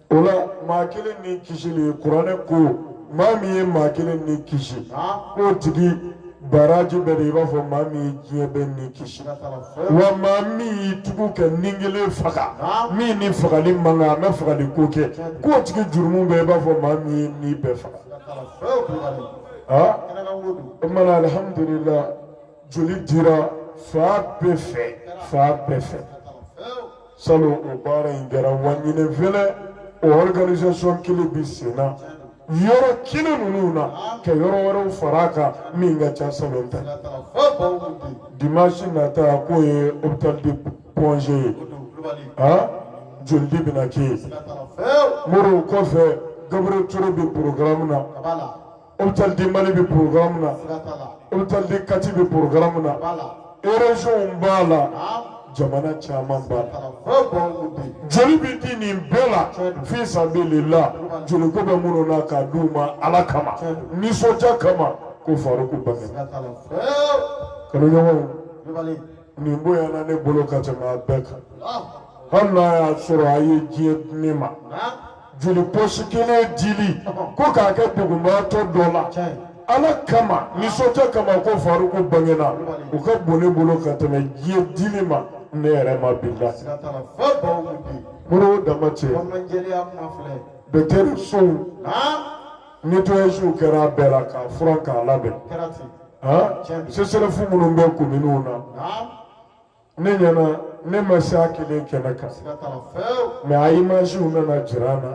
Speaker 1: O la maa kelen ni kisili kuranɛ ko maa min ye maa kelen ni kisi k'o tigi baraji bɛ de i b'a fɔ maa min ye diɲɛ bɛɛ ni kisi wa maa min y'i tugu ka ni kelen faga min ni fagali man kan a ma fagali ko kɛ k'o tigi jurumu bɛ i b'a fɔ maa min ye ni bɛɛ faga. O kumana alihamudulila joli dira fan bɛɛ fɛ fan bɛɛ fɛ salon o baara in kɛra wa ɲinɛ fɛnɛ o organisation kelen bi sen na yɔrɔ kelen ninnu na ka yɔrɔ wɛrɛw fara a kan min ka ca salon ta dimanche nata k'o ye hôpital de Point G ye ah jolidi bɛna kɛ yen moro kɔfɛ Gabriel Toure bɛ programme na. Hôpital du Mali bɛ programme na Hôpital de Kati bɛ programme na région b'a la jamana caman b'a la joli bɛ di nin bɛɛ la fi sabilila joliko bɛ minnu na k'a d'u ma Ala kama nisɔndiya kama ko Faruku Bange kanuɲɔgɔnw nin bonyana ne bolo ka tɛmɛ a bɛɛ kan hali n'a y'a sɔrɔ a ye diɲɛ di ne ma. joli pɔsi kelen dili ko k'a kɛ dɛgunbaatɔ dɔ la ala kama nisɔndiya kama ko faruku bangena o ka bon ne bolo ka tɛmɛ diɲɛ dili ma ne yɛrɛ ma bila moro o dama tɛ dɔkitɛrisow netɔyasiw kɛra a bɛɛ la k'a furan k'a labɛn sesɛrɛfu minnu bɛ kominiw na ne ɲɛna ne ma se a kelen kɛnɛ kan mɛ a imaziw nana jira an na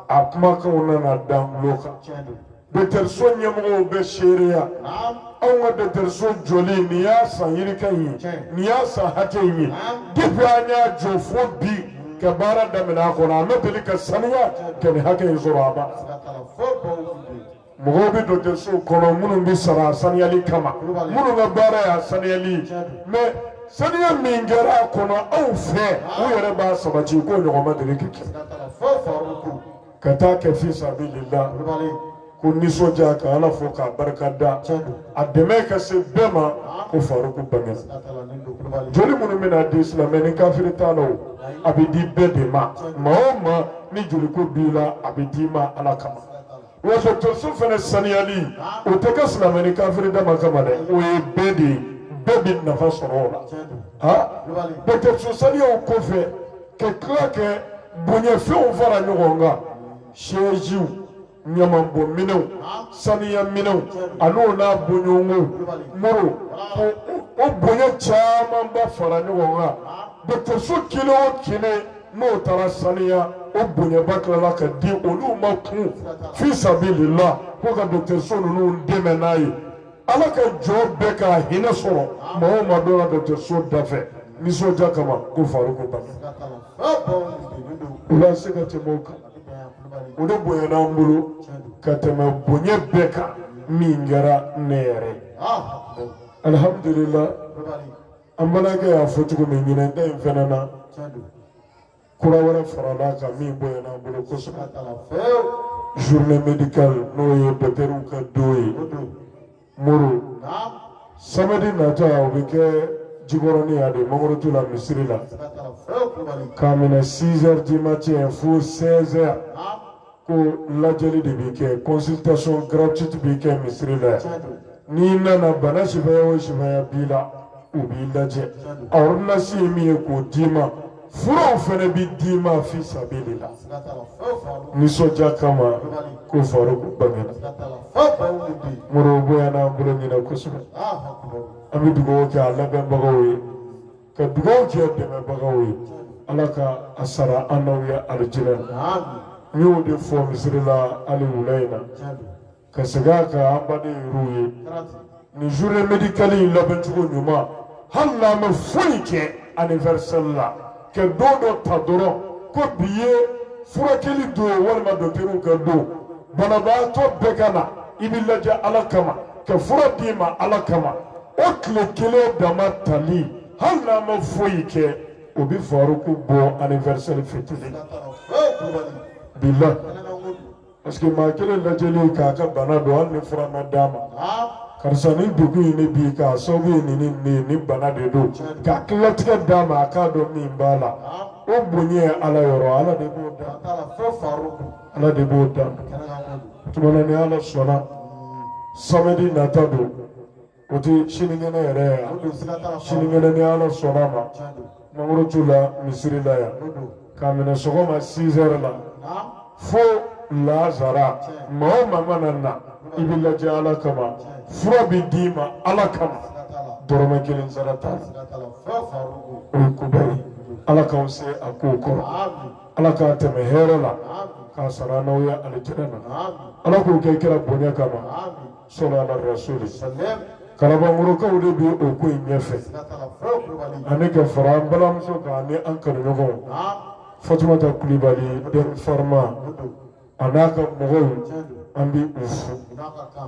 Speaker 1: a kumakanw nana da n tulo kan dɔkitɛriso ɲɛmɔgɔw bɛ seereya anw ka dɔkitɛriso jɔli nin y'a san yirika in ye nin y'a san hakɛ in ye depi an y'a jɔ fo bi ka baara daminɛ a kɔnɔ a ma deli ka saniya ka nin hakɛ in sɔrɔ ban mɔgɔw bɛ dɔgɔtɔrɔso kɔnɔ minnu bɛ sara a saniyali kama minnu ka baara y'a saniyali mɛ saniya min kɛra a kɔnɔ anw fɛ u yɛrɛ b'a sabati k'o ɲɔgɔn ma deli ka kɛ ka taa kɛ fi sabilillah ko nisɔndiya ka ala fo k'a barika da a dɛmɛ ka se bɛɛ ma ko faruku bangena joli minnu bɛna di silamɛ ni kafiri t'a la o a bɛ di bɛɛ de ma maa o maa ni joliko b'i la a bɛ d'i ma ala kama Wa dɔgɔtɔrɔso fana saniyali o tɛ kɛ silamɛ ni kafiri dama kama dɛ o ye bɛɛ de ye bɛɛ bɛ nafa sɔrɔ o la ha dɔgɔtɔrɔso saniyaw kɔfɛ ka tila kɛ bonyafɛnw fara ɲɔgɔn kan sɛziw ɲamanbɔ minɛnw saniya minɛnw an'o n'a bɔɲɔgɔnw moro o bonya camanba fara ɲɔgɔn kan dɔgɔtɔrɔso kelen o kelen n'o taara saniya o bonyaba tilala ka di olu ma kun fi sabilila ko ka dɔgɔtɔrɔso ninnu dɛmɛ n'a ye ala ka jɔn bɛɛ k'a hinɛ sɔrɔ maa o maa donna dɔgɔtɔrɔso dafɛ nisɔndiya kama ko faruku bangena o la se ka tɛmɛ o kan o de bonyana an bolo ka tɛmɛ bonya bɛɛ kan min kɛra ne yɛrɛ ye alihamudulila an balimakɛ y'a fɔ cogo min ɲinan ta in fana na kura wɛrɛ farala a kan min bonyana an bolo kosɛbɛ journée médicale n'o ye dɔkitɛriw ka don ye muru samedi natɔ o bɛ kɛ jikɔrɔni yan de mangorotu la misiri la k'a minɛ 6 heures du matin fo 16 heures ko lajɛli de bɛ kɛ consultation gratuite bɛ kɛ misiri la n'i nana bana sifaya o sifaya b'i la u b'i lajɛ a ordonnance ye min ye k'o d'i ma furaw fana bɛ d'i ma fi sabili la nisɔndiya kama ko faruku bangena muru bonyana an bolo ɲinan kosɛbɛ an bɛ dugawu kɛ a labɛnbagaw ye ka dugawu kɛ dɛmɛbagaw ye ala ka a sara an n'aw ye alijinɛ n y'o de fɔ misiri la hali wula in na ka segin a kan an baden yɛrɛw ye nin journée médicale in labɛn cogo ɲuman hali n'an ma foyi kɛ anniversaire la ka don dɔ ta dɔrɔn ko bi ye furakɛli don walima dɔkitɛriw ka don banabaatɔ bɛɛ ka na i bɛ lajɛ ala kama ka fura d'i ma ala kama o tile kelen dama tali hali n'a ma foyi kɛ o bɛ faruku bɔ anniversaire fitiri bila parce que maa kelen lajɛli k'a ka bana dɔn hali ni fura ma d'a ma karisa ni degun in ne bi k'a sababu ye nin nin nin bana de don k'a ka latigɛ d'a ma a k'a dɔn min b'a la o bonya ye ala yɔrɔ ala de b'o dan. ala de b'o dan tuma na ni ala sɔnna samedi nata don o tɛ sinikɛnɛ yɛrɛ ye yan sinikɛnɛ ni ala sɔnna a ma mangorotu la misiri la yan k'a minɛ sɔgɔma 6 heures la fo lazara maa o maa mana na i bɛ lajɛ ala kama fura bɛ d'i ma ala kama dɔrɔmɛ kelen sara t'a la o ye koba ye ala k'aw se a kow kɔrɔ. ala k'a tɛmɛ hɛrɛ la k'a sara n'aw ye alijinɛ na ala k'o kɛ kira bonya kama sɔlu ala rasuli kalabankɔrɔkaw de bi o ko in ɲɛfɛ ani ka fara an balimamuso kan ani an kanuɲɔgɔnw fatumata kulibali den farima a n'a ka mɔgɔw an bi u fo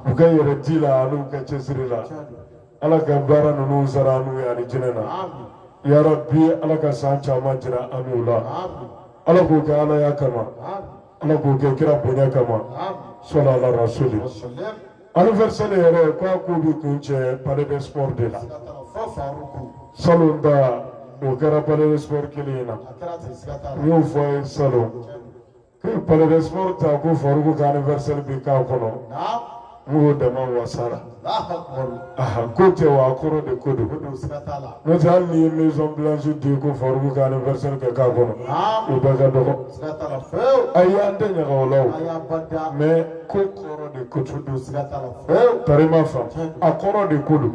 Speaker 1: u ka yɛrɛ di la an'u ka cɛsiri la ala ka baara ninnu sara an n'u ye alijinɛ na ya Rabbi ala ka san caman jira an n'u la ala k'o kɛ ala ya kama ala k'o kɛ kira bonya kama sɔla ala rasuli anniversaire yɛrɛ ko a ko bɛ kuncɛ palais de sport de la salon ta o kɛra palais de sport kelen in na n y'o fɔ a ye salon palais de sport ta ko Faruku ka anniversaire bi k'a kɔnɔ o dama wasara ko tɛ wa a kɔrɔ de ko don n'o tɛ hali n'i ye maison blanche di ko Faruku ka anniversaire kɛ k'a kɔnɔ o bɛɛ ka dɔgɔ ayi an tɛ ɲaga o la o mais ko kɔrɔ de ko don tari m'a faamu a kɔrɔ de ko don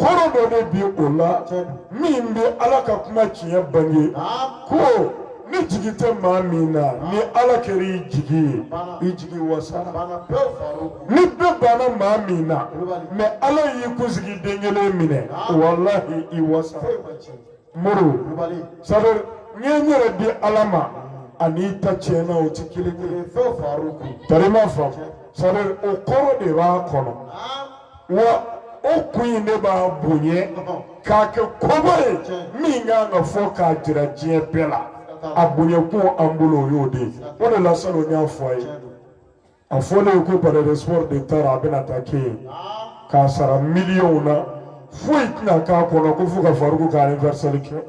Speaker 1: kɔrɔ dɔ de bi o la min bɛ ala ka kuma tiɲɛ bange ko ni jigi tɛ maa min na ni ala kɛra i jigi ye i jigi wasara ni bɛɛ banna maa min na mais ala y'i kunsigi den kelen minɛ walahi i wasara muru c'est-à-dire n ye n yɛrɛ di ala ma ani i ta tiɲɛna o tɛ kelen kelen tari m'a faamu c'est-à-dire o kɔrɔ de b'a kɔnɔ. wa o kun in de b'a bonya k'a kɛ koba ye min kan ka fɔ k'a jira diɲɛ bɛɛ la a bonyakun an bolo o y'o de ye o de la salon n y'a fɔ a ye a fɔlen ye ko palais de sport de taara a bɛna taa kɛ yen k'a sara miliyɔnw na foyi tɛna k'a kɔnɔ ko fo ka Faruku ka anniversaire kɛ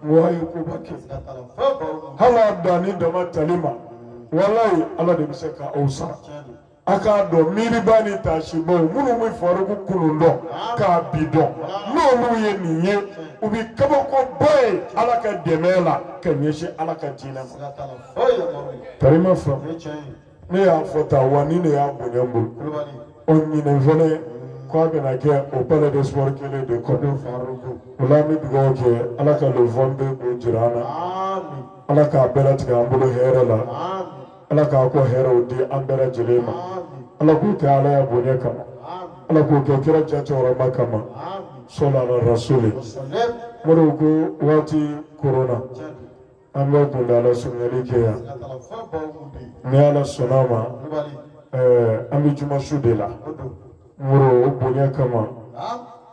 Speaker 1: wa a ye koba kɛ hali a danni dama tali ma walayi ala de bɛ se ka aw sara. a k'a dɔn miiriba ni taasibaw minnu bɛ Faruku kunun dɔn k'a bi dɔn n'olu ye nin ye u bɛ kabakoba ye ala ka dɛmɛ la ka ɲɛsin ala ka diinɛ ma tari m'a faamu ne y'a fɔ tan wa nin de y'a bonya n bolo o ɲinɛ fɛnɛ k'a bɛna kɛ o palais de sport kelen de kɔnɔ o la an bɛ dugawu kɛ ala ka le 22 k'o jira an na ala k'a bɛɛ latigɛ an bolo hɛrɛ la. ala k'a ko hɛrɛw di an bɛɛ lajɛlen ma ala k'o kɛ ala ya bonya kama ala k'o kɛ kira ja cɛkɔrɔba kama sɔlala rasuli moriw ko waati koronna an bɛ kuntaala surunyali kɛ yan ni ala sɔnna ma eh, an bɛ juma su de la moriw bonya kama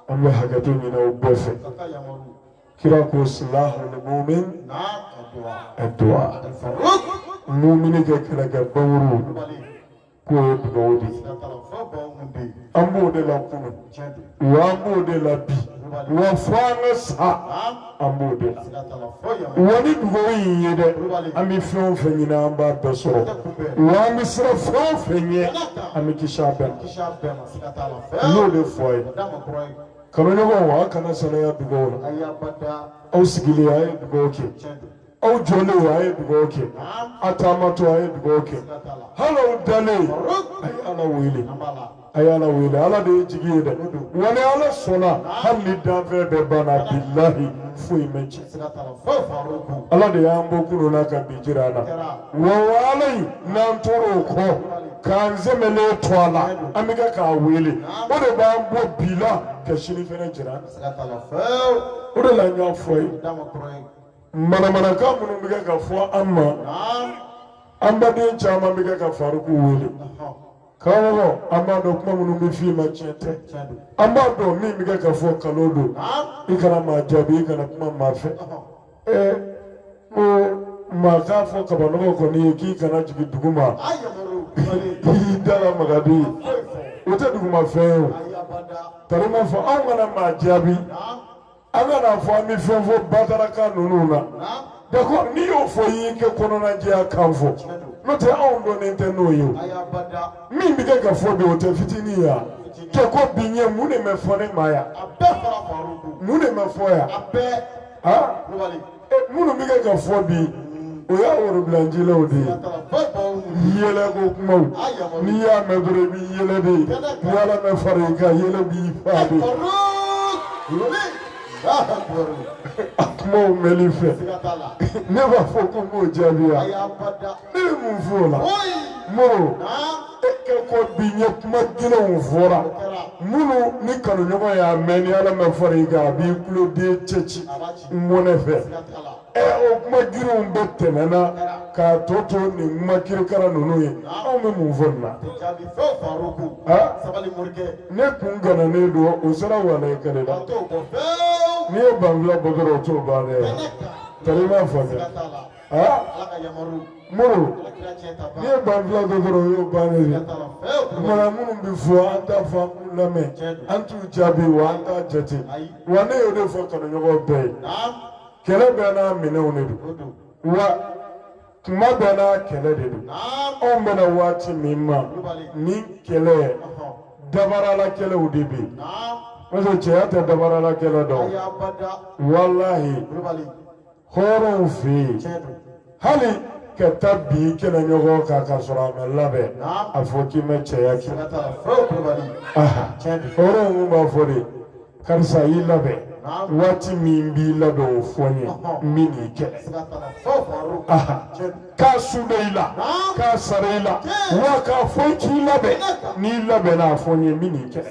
Speaker 1: an bɛ hakɛto ɲini u bɛɛ fɛ kira ko silahul mumin ad-du'a mumini ka kɛlɛkɛ banmuru k'o ye dugawu de ye an b'o de la kunu wa an b'o de la bi wa fo an ka sa an b'o de la wa ni dugawu in ye dɛ an bɛ fɛn o fɛn ɲini an b'a bɛɛ sɔrɔ wa an bɛ siran fɛn o fɛn ɲɛ an bɛ kisi a bɛɛ ma n y'o de fɔ a ye. Kanuɲɔgɔnw a kana salaya dugaw la. Ayi abada. Aw sigilen a ye dugaw kɛ. Tiɲɛ don. Aw jɔlen a ye dugaw kɛ. Naam. A taamatɔ a ye dugaw kɛ. Siga t'a la. Hali aw dalen a ye Ala wele. An b'a la. A ye Ala wele Ala de ye jigi ye dɛ. Wa ni Ala sɔnna hali ni danfɛn bɛɛ banna bilahi foyi ma cɛn. ala de y'an bɔ kunun na ka bi jira an na wa walahi n'an tora o kɔ k'an sɛmɛlen to a la an bɛ kɛ k'a wele o de b'an bɔ bi la ka sini fɛnɛ jira an na o de la n y'a fɔ ye manamanakan minnu bɛ kɛ ka fɔ an ma an baden caman bɛ kɛ ka Faruku wele. Karamɔgɔ an b'a dɔn kuma minnu bɛ f'i ma tiɲɛ tɛ an b'a dɔn min bɛ kɛ ka fɔ kalo don i kana maa jaabi i kana kuma maa fɛ ɛɛ ko maa k'a fɔ kabanɔgɔ kɔni ye k'i kana jigin dugu ma k'i da lamaga bi o tɛ dugumafɛn ye o tari ma fɔ anw kana maa jaabi an kana fɔ an bɛ fɛn fɔ batarakan ninnu na d'accord n'i y'o fɔ i y'i ka kɔnɔnajɛya kan fɔ n'o tɛ anw dɔnnen tɛ n'o ye min bɛ kɛ ka fɔ bi o tɛ fitinin ye wa ka kɔn bi ɲɛ mun de bɛ fɔ ne ma yan mun de bɛ fɔ yan. minnu bɛ kɛ ka fɔ bi o y'a worobilancilaw de ye yɛlɛ ko kumaw n'i y'a mɛn dɔrɔn i b'i yɛlɛ de ni ala ma fara i kan yɛlɛ b'i fa de a kumaw mɛnli fɛ ne b'a fɔ ko n b'o jaabi wa. Ne bɛ mun fɔ o la Moro e ka kɔn bi ɲɛ kuma gɛlɛnw fɔra minnu ni kanuɲɔgɔn y'a mɛn ni ala ma fara i kan a b'i kuloden cɛ ci n mɔnɛ fɛ ɛ o kuma girinw bɛɛ tɛmɛna k'a tɔ to nin kuma kirikara ninnu ye anw bɛ mun fɔ nin na ne kun gananen don o sera walahi kɛlɛ la n'i ye banfula bɔ dɔrɔn o t'o ban dɛ tari i m'a faamuya ala ka yamaru Moro n'i ye banfula bɔ dɔrɔn o y'o bannen ye kumana minnu bɛ fɔ an t'a fɔ an k'u lamɛn an t'u jaabi wa an t'a jate wa ne y'o de fɔ kanuɲɔgɔn bɛɛ ye kɛlɛ bɛɛ n'a minɛnw de don wa kuma bɛɛ n'a kɛlɛ de don anw bɛnna waati min ma nin kɛlɛ dabarala kɛlɛw de bɛ yen parce que cɛya tɛ dabarala kɛlɛ dɔn walahi hɔrɔnw fɛ yen hali ka taa bin i kɛlɛɲɔgɔn kan k'a sɔrɔ a ma labɛn a fɔ k'i ma cɛya kɛ hɔrɔnw kun b'a fɔ de karisa i labɛn waati min b'i labɛn o fɔ n ye n bɛ n'i kɛlɛ. k'a su bɛ i la k'a sara i la wa k'a fɔ i k'i labɛn n'i labɛnna a fɔ n ye n bɛ nin kɛ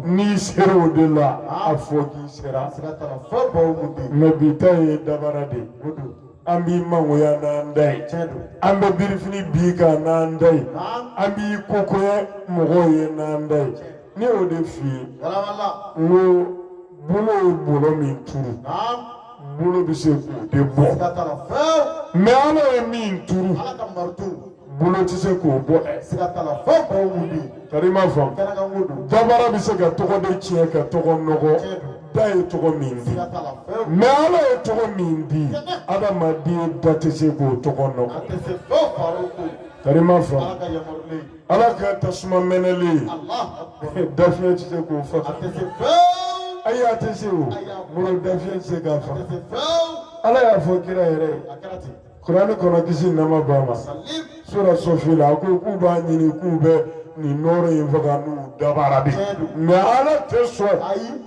Speaker 1: n'i sera o de la a fɔ k'i sera mɛ bi ta ye dabara de ye an b'i mangoya n'an da ye an bɛ birifini b'i kan n'an da ye an b'i ko goya mɔgɔw ye n'an da ye ne y'o de f'i ye n ko bolo ye bɔlɔ min turu bolo bɛ se k'o de bɔ mɛ ala ye min turu bolo tɛ se k'o bɔ tari ma faamu dabara bɛ se ka tɔgɔ de tiɲɛ ka tɔgɔ nɔgɔ da ye tɔgɔ min di mɛ ala ye tɔgɔ min di adamaden da tɛ se k'o tɔgɔ nɔgɔ tari ma faamu ala ka tasuma mɛnɛlen dafiɲɛ tɛ se k'o faga ayi a tɛ se o moro dafiɲɛ tɛ se k'a faga ala y'a fɔ kira yɛrɛ ye kurani kɔnɔ kisi nɛɛma b'a ma sura sɔfi la a ko k'u b'a ɲini k'u bɛ nin nɔɔrɔ in faga n'u dabara de mɛ ala tɛ sɔn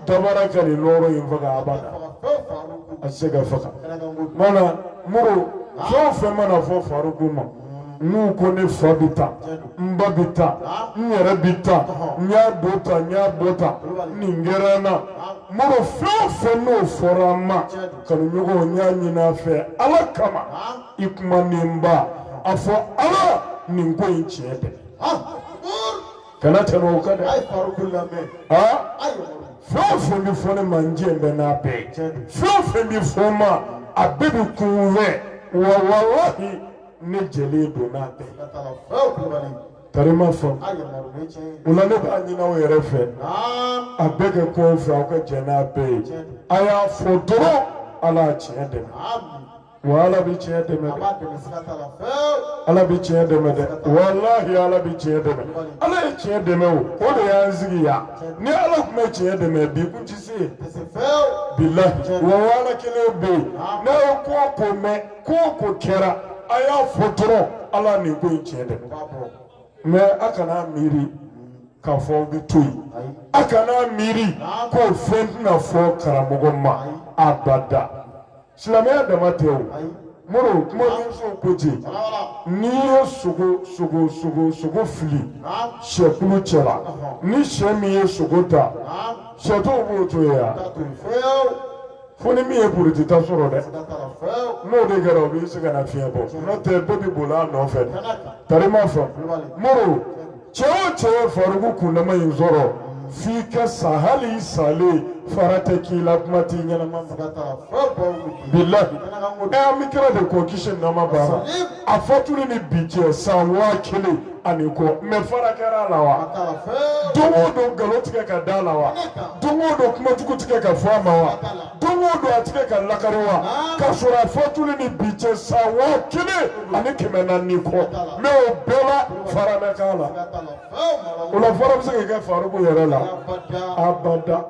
Speaker 1: dabara ka nin nɔɔrɔ in faga abada a tɛ se ka faga mana moro fɛn o fɛn mana fɔ faruku ma n'u ko ne fa bɛ taa n ba bɛ taa n yɛrɛ bɛ taa n y'a bɔ ta n y'a bɔ ta nin kɛra n na moro fɛn o fɛn n'o fɔra n ma kanuɲɔgɔnw n y'a ɲini a fɛ ala kama i kuma ni n ba a fɔ ala nin ko in tiɲɛ dɛmɛ. kana tɛmɛ o kan dɛ. fɛn o fɛn bɛ fɔ ne ma n jɛ bɛ n'a bɛɛ ye fɛn o fɛn bɛ fɔ n ma a bɛɛ bɛ kun fɛ wa walahi ne jɛlen don n'a bɛɛ ye. tari ma faamu o la ne b'a ɲini aw yɛrɛ fɛ a bɛɛ kɛ kɔfɛ aw ka jɛ n'a bɛɛ ye a y'a fɔ dɔrɔn ala y'a tiɲɛ dɛmɛ. wa ala bɛ tiɲɛ dɛmɛ dɛ ala bɛ tiɲɛ dɛmɛ dɛ walahi ala bɛ tiɲɛ dɛmɛ ala ye tiɲɛ dɛmɛ o o de y'an sigi yan ni ala tun ma tiɲɛ dɛmɛ bi kun ti se bilahi wa ala kelen bɛ yen n'a ye ko o ko mɛn ko o ko kɛra a y'a fɔ dɔrɔn ala nin ko in tiɲɛ dɛmɛ mɛ a kana miiri k'a fɔ aw bɛ to yen a kana miiri ko fɛn tɛna fɔ karamɔgɔ ma abada. silamɛya dama tɛ o moro kumadɔnsow ko ten n'i ye sogo sogo sogo sogo fili sɛkulu cɛla ni sɛ min ye sogo ta sɛ tɔw b'o to yen ya fo ni min ye puruti ta sɔrɔ dɛ n'o de kɛra o bɛ se ka nafiɲɛbɔ n'o tɛ bɛɛ bɛ boli a nɔfɛ tari ma faamu moro cɛ o cɛ ye faruku kundama in sɔrɔ f'i ka sa hali i salen fara tɛ k'i la kuma t'i ɲɛnama bilahi ɛ an bɛ kira de kɔ kisi nɛɛma b'a ma a fatuli ni bi cɛ san waa kelen ani kɔ mais fara kɛra a la wa don o don nkalon ti kɛ ka da a la wa don o don kuma jugu ti kɛ ka fɔ a ma wa don o don a tɛ kɛ ka lakari wa ka sɔrɔ a fatuli ni bi cɛ san waa kelen ani kɛmɛ naani kɔ mais o bɛɛ la fara ma k'a la o la fara bɛ se ka kɛ faruku yɛrɛ la abada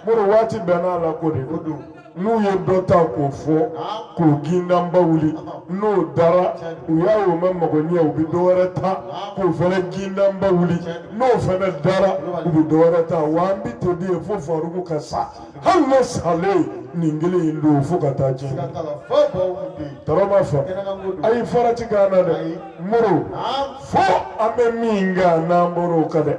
Speaker 1: moro waati bɛɛ n'a la ko de don n'u ye dɔ ta k'o fɔ k'o gindanba wuli n'o dara u y'a ye o ma mago ɲɛ u bɛ dɔ wɛrɛ ta k'o fana gindanba wuli n'o fana dara u bɛ dɔ wɛrɛ ta wa an bɛ to di ye fo faruku ka sa hali ne salen nin kelen in don fo ka taa jɛ tɔɔrɔ ma fɔ ayi fara ti k'an na dɛ moro fo an bɛ min kan n'an bɔr'o kan dɛ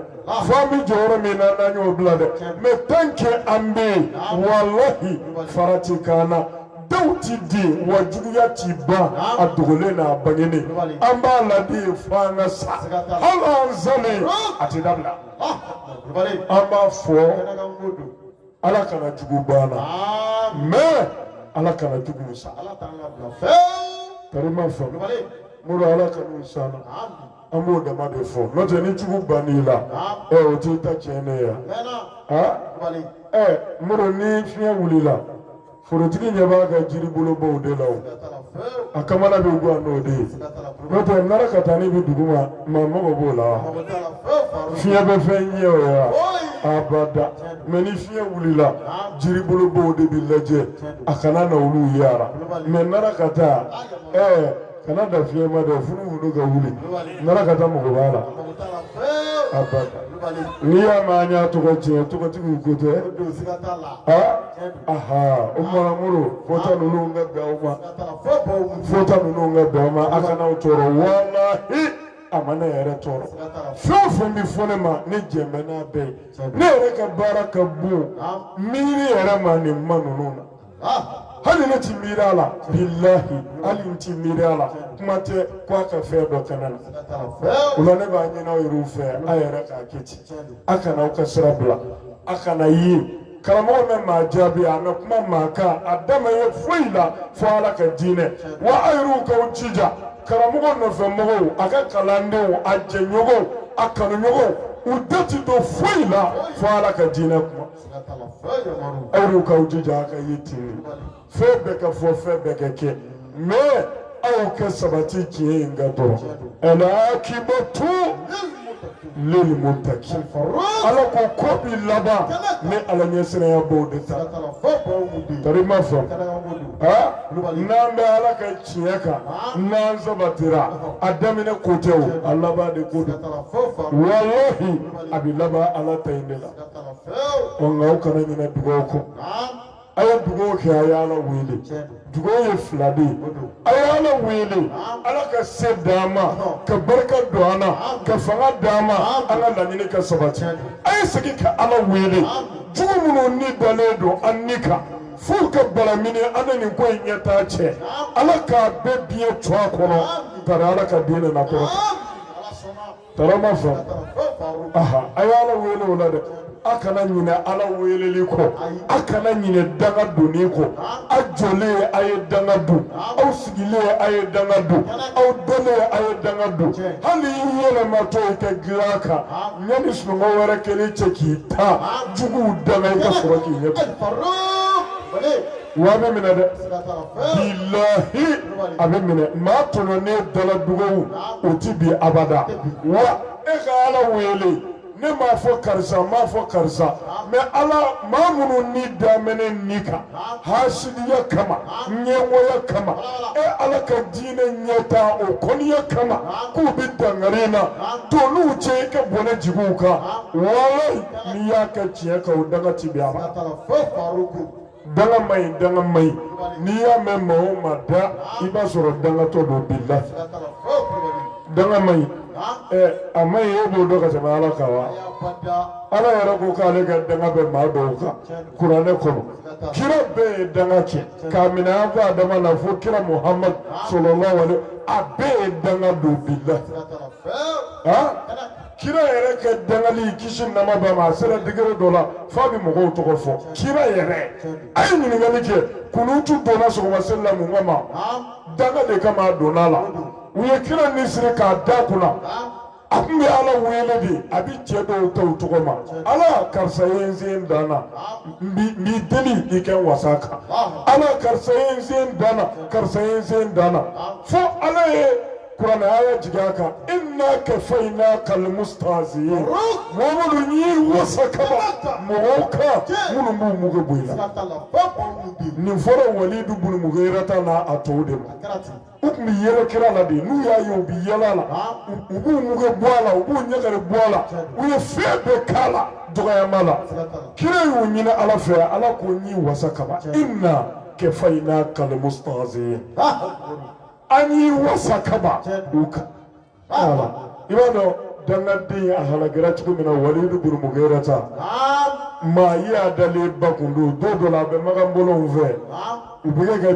Speaker 1: fo an bɛ jɔyɔrɔ min na n'an y'o bila dɛ mais tant que an bɛ yen walahi fara ti k'an na. dɔw ti di wa juguya ti ban a dogolen n'a bangenen an b'a la de fo an ka sa hali an salen a ti dabila an b'a fɔ ala kana jugu ban an na mais ala kana jugu sa karima fɔ moro ala kan'u s'an na an b'o dama de fɔ n'o tɛ ni jugu bann'i la ɛ o t'i ta tiɲɛnen ye yan ɛ moro ni fiɲɛ wulila. forotigi ɲɛ b'a ka jiribolobaw de la o a kamana bɛ gwan n'o de ye n'o tɛ narakatanin bɛ dugu ma maa mago b'o la wa fiɲɛ bɛ fɛn ɲɛ o ye wa abada mais ni fiɲɛ wulila jiribolobaw de bɛ lajɛ a kana na olu yaara mais narakata ɛɛ kana da fiɲɛ ma dɛ funufunu ka wuli narakata mago b'a la abada n'i y'a mɛn an y'a tɔgɔ tiɲɛ tɔgɔtigiw ko tɛ aha o mara moro fɔta ninnu ka bɛn aw ma fɔta ninnu ka bɛn aw ma a kana aw tɔɔrɔ walahi a ma ne yɛrɛ tɔɔrɔ fɛn o fɛn bɛ fɔ ne ma ne jɛn bɛ n'a bɛɛ ye ne yɛrɛ ka baara ka bon miiri yɛrɛ ma nin ma ninnu na. Ah, hali ne ti miiri a la bilahi hali n ti miiri a la kuma tɛ ko a ka fɛn dɔ kɛ ne na o la ne b'a ɲini aw yɛrɛw fɛ a yɛrɛ k'a kɛ ten a kana aw ka sira bila a kana ye karamɔgɔ ma maa jaabi a ma kuma maa kan a da ma ye foyi la fo ala ka diinɛ wa a yɛrɛw k'aw jija karamɔgɔ nɔfɛmɔgɔw a ka kalandenw a jɛɲɔgɔnw a kanuɲɔgɔnw u da ti don foyi la fo ala ka diinɛ kuma aw yɛrɛw k'aw jija a ka ye ten fɛn bɛɛ ka fɔ fɛn bɛɛ ka kɛ mais aw ka sabati tiɲɛ in kan dɔrɔn al-aqibatu lilmuttaqin ala ko ko bi laban ni ala ɲɛsiranyabaw de ta tari ma fɔ ha n'an bɛ ala ka tiɲɛ kan n'an sabatira a daminɛ ko tɛ o a laban de ko don walahi a bɛ laban ala ta in de la ko nka aw kana ɲinɛ dugawu kɔ a ye dugawu kɛ a y'ala wele dugawu ye fila de ye a y'ala wele ala ka se d'an ma ka barika don an na ka fanga d'an ma an ka laɲini ka sabati a ye segin ka ala wele jugu minnu ni dalen don an ni kan f'u ka balamini an ni nin ko in ɲɛtaa cɛ ala k'a bɛɛ biɲɛ cɔ a kɔnɔ bari ala ka diinɛ na kɔrɔta tari ma fɔ a y'ala wele o la dɛ a kana ɲinɛ ala weleli kɔ a kana ɲinɛ danga donni kɔ a jɔlen ye a ye danga don aw sigilen ye a ye danga don aw dalen ye a ye danga don hali i yɛlɛmatɔ i ka dilan kan yanni sunɔgɔ wɛrɛ kɛlen cɛ k'i ta juguw danga i ka sɔrɔ k'i ɲɛ Wa a bɛ minɛ dɛ bilahi a bɛ minɛ maa tɔɲɔnen dala dugawu o tɛ bin abada wa e ka ala wele ne m'a fɔ karisa m'a fɔ karisa mais ala maa minnu ni daminɛ ni kan hasidiya kama ɲɛngoya kama e ala ka diinɛ ɲɛtaa o kɔniya kama k'u bɛ dankari n na to n n'u cɛ i ka bɔnɛ jigin u kan walahi n'i y'a kɛ tiɲɛ kan o danga ti bin abada danga ma ɲi danga ma ɲi n'i y'a mɛn maa o maa da i b'a sɔrɔ dangatɔ don bilahi danga ma ɲi a ma ɲi e b'o dɔn ka tɛmɛ ala kan wa ala yɛrɛ ko k'ale ka danga bɛ maa dɔw kan kuranɛ kɔnɔ kira bɛɛ ye danga kɛ k'a minɛ an ko adama na fo kira muhamadu salalahu alayihi a bɛɛ ye danga don bilahi kira yɛrɛ ka dangali kisi nɛɛma b'a ma a sera degré dɔ la f'a bɛ mɔgɔw tɔgɔ fɔ kira yɛrɛ a ye ɲininkali kɛ kunutu donna sɔgɔmaseli la mun kama danga de kama a donna la u ye kira ni siri k'a da kunna a tun bɛ ala wele de a bɛ cɛ dɔw ta u tɔgɔ ma ala karisa ye n se n dan na n b'i- n b'i deli i ka n wasa a kan ala karisa ye n se n dan na karisa ye n se n dan na fo ala ye kuranɛ a y'a jigin a kan inna kafaynaka almustahzi'in mamadu n y'i wasa kaba mɔgɔw kan minnu b'u mugu bɔ i la nin fɔra walidu bun mugirata n'a a tɔw de ma u tun bɛ yɛlɛ kira la de n'u y'a ye u bɛ yɛlɛ a la u b'u mugu bɔ a la u b'u ɲagari bɔ a la u ye fɛn bɛɛ k'a la dɔgɔyama la kira y'u ɲini ala fɛ ala ko n y'i wasa kaba inna kafaynaka almustahzi'in. an y'i wasa kaba donc i b'a dɔn dangaden a halakira cogo min na walidu bun mugirata maa yaadalenba kun don don dɔ la a bɛ makan bɔlɔnw fɛ u bɛ kɛ ka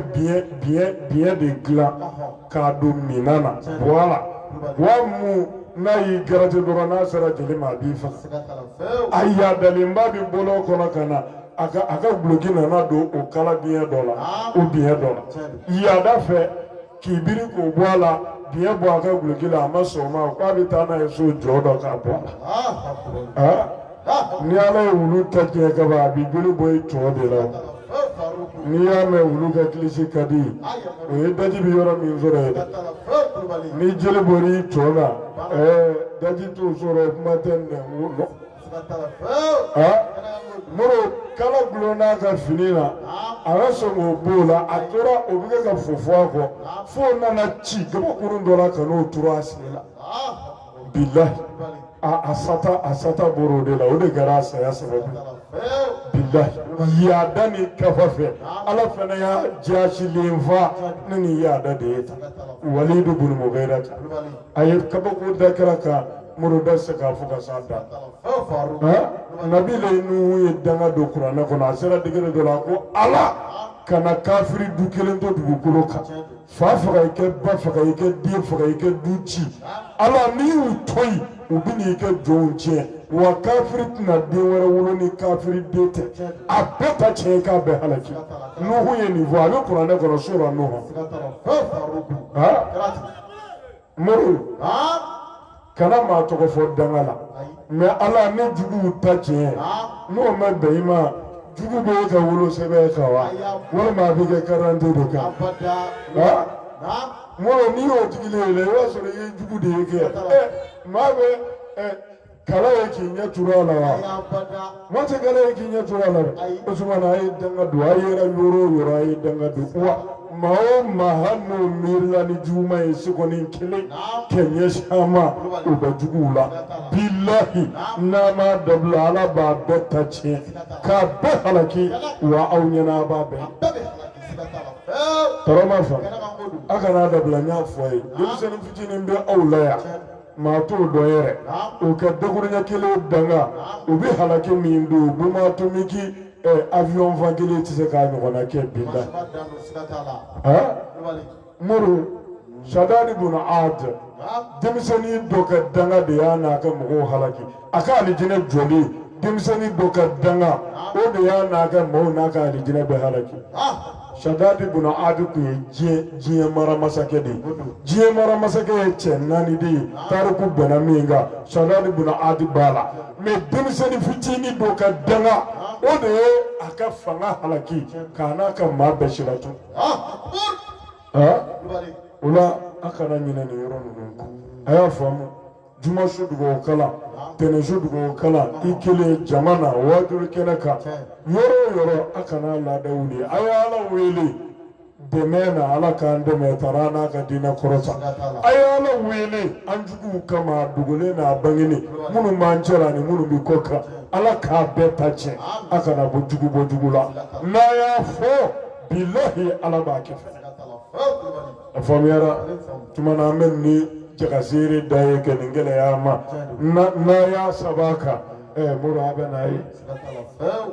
Speaker 1: biɲɛ de dilan k'a don minan na buwa la buwa min n'a y'i garati dɔrɔn n'a sera jeli ma a b'i faga a yaadalenba bɛ bɔlɔn kɔnɔ ka na a ka a ka guloki nana don o kala biɲɛ dɔ la o biɲɛ dɔ la yaada fɛ k'i biri k'o bɔ a la biɲɛ bɔ a ka guloki la a ma sɔn o ma k'a bɛ taa n'a ye so jɔn dɔ k'a bɔ a la ni ala ye wulu ta tiɲɛ kaba a b'i joli bɔ i tɔn de la n'i y'a mɛn wulu ka kilisi ka di o ye daji bɛ yɔrɔ min sɔrɔ ye ni joli bɔr'i tɔn la ɛɛ daji t'o sɔrɔ kuma tɛ nɛn kala gulonna a ka fini na a ma sɔn k'o bɔ a la a tora o bɛ kɛ ka fofo a kɔ fo o nana ci gabakurun dɔ la ka n'o turu a sen la bilahi a a sata a sata bɔr'o de la o de kɛra a saya sababu ye bilahi yaada ni kafa fɛ ala fana y'a jaasilen faga ne ni yaada de ye tan walidu bun mugirata a ye kabako da kira kan mori tɛ se k'a fɔ ka s'a dan nabila nuhu ye danga don kuranɛ kɔnɔ a sera degere dɔ la ko ala kana kafiri du kelen to dugukolo kan fa faga i kɛ ba faga i kɛ den faga i kɛ du ci ala n'i y'u to yen u bɛ n'i ka jɔnw tiɲɛ wa kafiri tɛna den wɛrɛ wolo ni kafiri den tɛ a bɛɛ ta tiɲɛ k'a bɛɛ halaki nuhu ye nin fɔ a bɛ kuranɛ kɔnɔ sura nuhu mori kana maa tɔgɔ fɔ danga la mɛ ala ne juguw ta tiɲɛ n'o ma bɛn i ma jugu bɛ e ka wolosɛbɛn kan wa walima a b'i ka karante de kan mori n'i y'o digilen ye dɛ i b'a sɔrɔ i ye jugu de ye kɛ maa bɛ kala ye k'i ɲɛ turu a la wa maa tɛ kala ye k'i ɲɛ turu a la dɛ o tuma na a ye danga don a yera yɔrɔ o yɔrɔ a ye danga don wa maa o maa hali n'o miirila ni juguma ye sekɔni kelen kɛ ɲɛsin a ma o bɛ juguw la bilahi n'a ma dabila ala b'a bɛɛ ta tiɲɛ k'a bɛɛ halaki wa aw ɲɛna a b'a bɛɛ tɔɔrɔ ma fa a kana dabila n y'a fɔ a ye denmisɛnnin fitinin bɛ aw la yan. maa t'o dɔn yɛrɛ o ka dakuruɲɛ kelen danga o bɛ halaki min don bɔmu atomiki avion fan kelen tɛ se k'a ɲɔgɔnna kɛ bilahi muru sadadi buna adi denmisɛnnin dɔ ka danga de y'a n'a ka mɔgɔw halaki a ka alijinɛ jɔli denmisɛnnin dɔ ka danga o de y'a n'a ka maaw n'a ka alijinɛ bɛɛ halaki sadadi buna adi tun ye diɲɛ diɲɛ mara masakɛ de ye diɲɛ mara masakɛ ye cɛ naani de ye tariku bɛnna min kan sadadi buna adi b'a la mɛ denmisɛnnin fitinin dɔ ka danga o de ye a ka fanga halaki k'a n'a ka maa bɛɛ silatunun o la a kana ɲinɛ nin yɔrɔ ninnu kɔ a y'a faamu juma su dugawu kalan tɛnɛn su dugawu kalan i kelen jama na waajuli kɛnɛ kan yɔrɔ o yɔrɔ a kana laada wuli a ye ala wele dɛmɛ na ala k'an dɛmɛ tara n'a ka diinɛ kɔrɔta a ye ala wele an juguw kama a dogolen n'a bangenen minnu b'an cɛla ani minnu bɛ kɔkan ala k'a bɛɛ ta tiɲɛ a kana bɔ jugu bɔ jugu la n'a y'a fɔ bilahi ala b'a kɛ fɛnɛ a faamuyara tuma na an bɛ ni jakasiri da ye kɛ nin gɛlɛya ma n'a y'a saba kan ɛɛ mori a bɛ n'a ye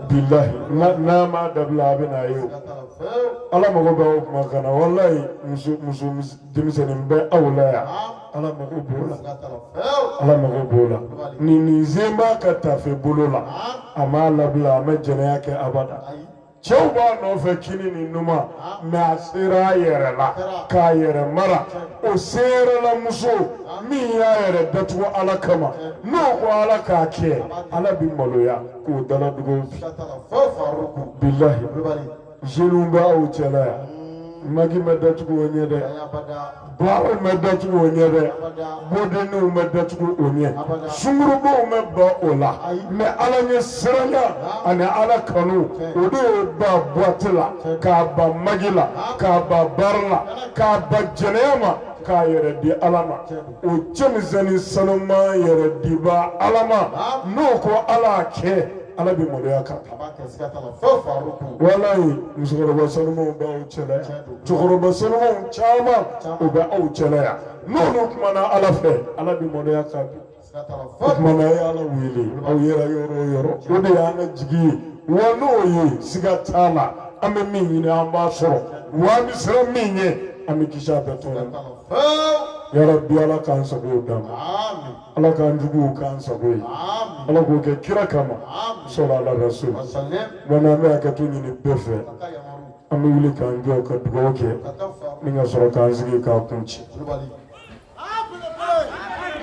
Speaker 1: bilahi n'a ma dabila a bɛ n'a ye ala mago bɛ o kuma kana walayi muso muso denmisɛnnin bɛ aw la yan ala mago b'o la ala mago b'o la nin nin zen b'a ka tafe bolo la a m'a labila a ma jɛnɛya kɛ abada cɛw b'a nɔfɛ kini ni numan mɛ a sera a yɛrɛ la k'a yɛrɛ mara o seerela muso min y'a yɛrɛ datugu ala kama n'o ko ala k'a kɛ ala bi maloya k'o dala dugu bi bilahi jeunes b'aw cɛla yan magi ma datugu o ɲɛ dɛ Bariw ma datugu o ɲɛ dɛ boîte de nuitw ma datugu o ɲɛ sungurunbaw ma ban o la mɛ ala ɲɛsiranya ani ala kanu o de y'o ban bɔti la k'a ban magi la k'a ban bari la k'a ban jɛnɛya ma k'a yɛrɛ di ala ma o cɛmisɛnnin sanuman yɛrɛ dibaa ala ma n'o ko ala kɛ ala bɛ maloya kan walayi musokɔrɔba sanumanw b'aw cɛ cɛkɔrɔba senumanw caman u bɛ aw cɛla yan n'olu kumana ala fɛ ala bɛ maloya ka ban o kuma na a ye ala wele aw yɛrɛ yɔrɔ o yɔrɔ o de y'an ka jigi ye wa n'o ye siga t'a la an bɛ min ɲini an b'a sɔrɔ wa an bɛ siran min ɲɛ an bɛ kisi a bɛɛ tɔɔrɔ ma yarabi ala k'an sago d'an ma ala k'an juguw k'an sago ye ala k'o kɛ kira kama sɔlu ala rasul wa n'an bɛ hakɛto ɲini bɛɛ fɛ an bɛ wuli k'an jɔ ka dugawu kɛ ni ka sɔrɔ k'an sigi k'a kuncɛ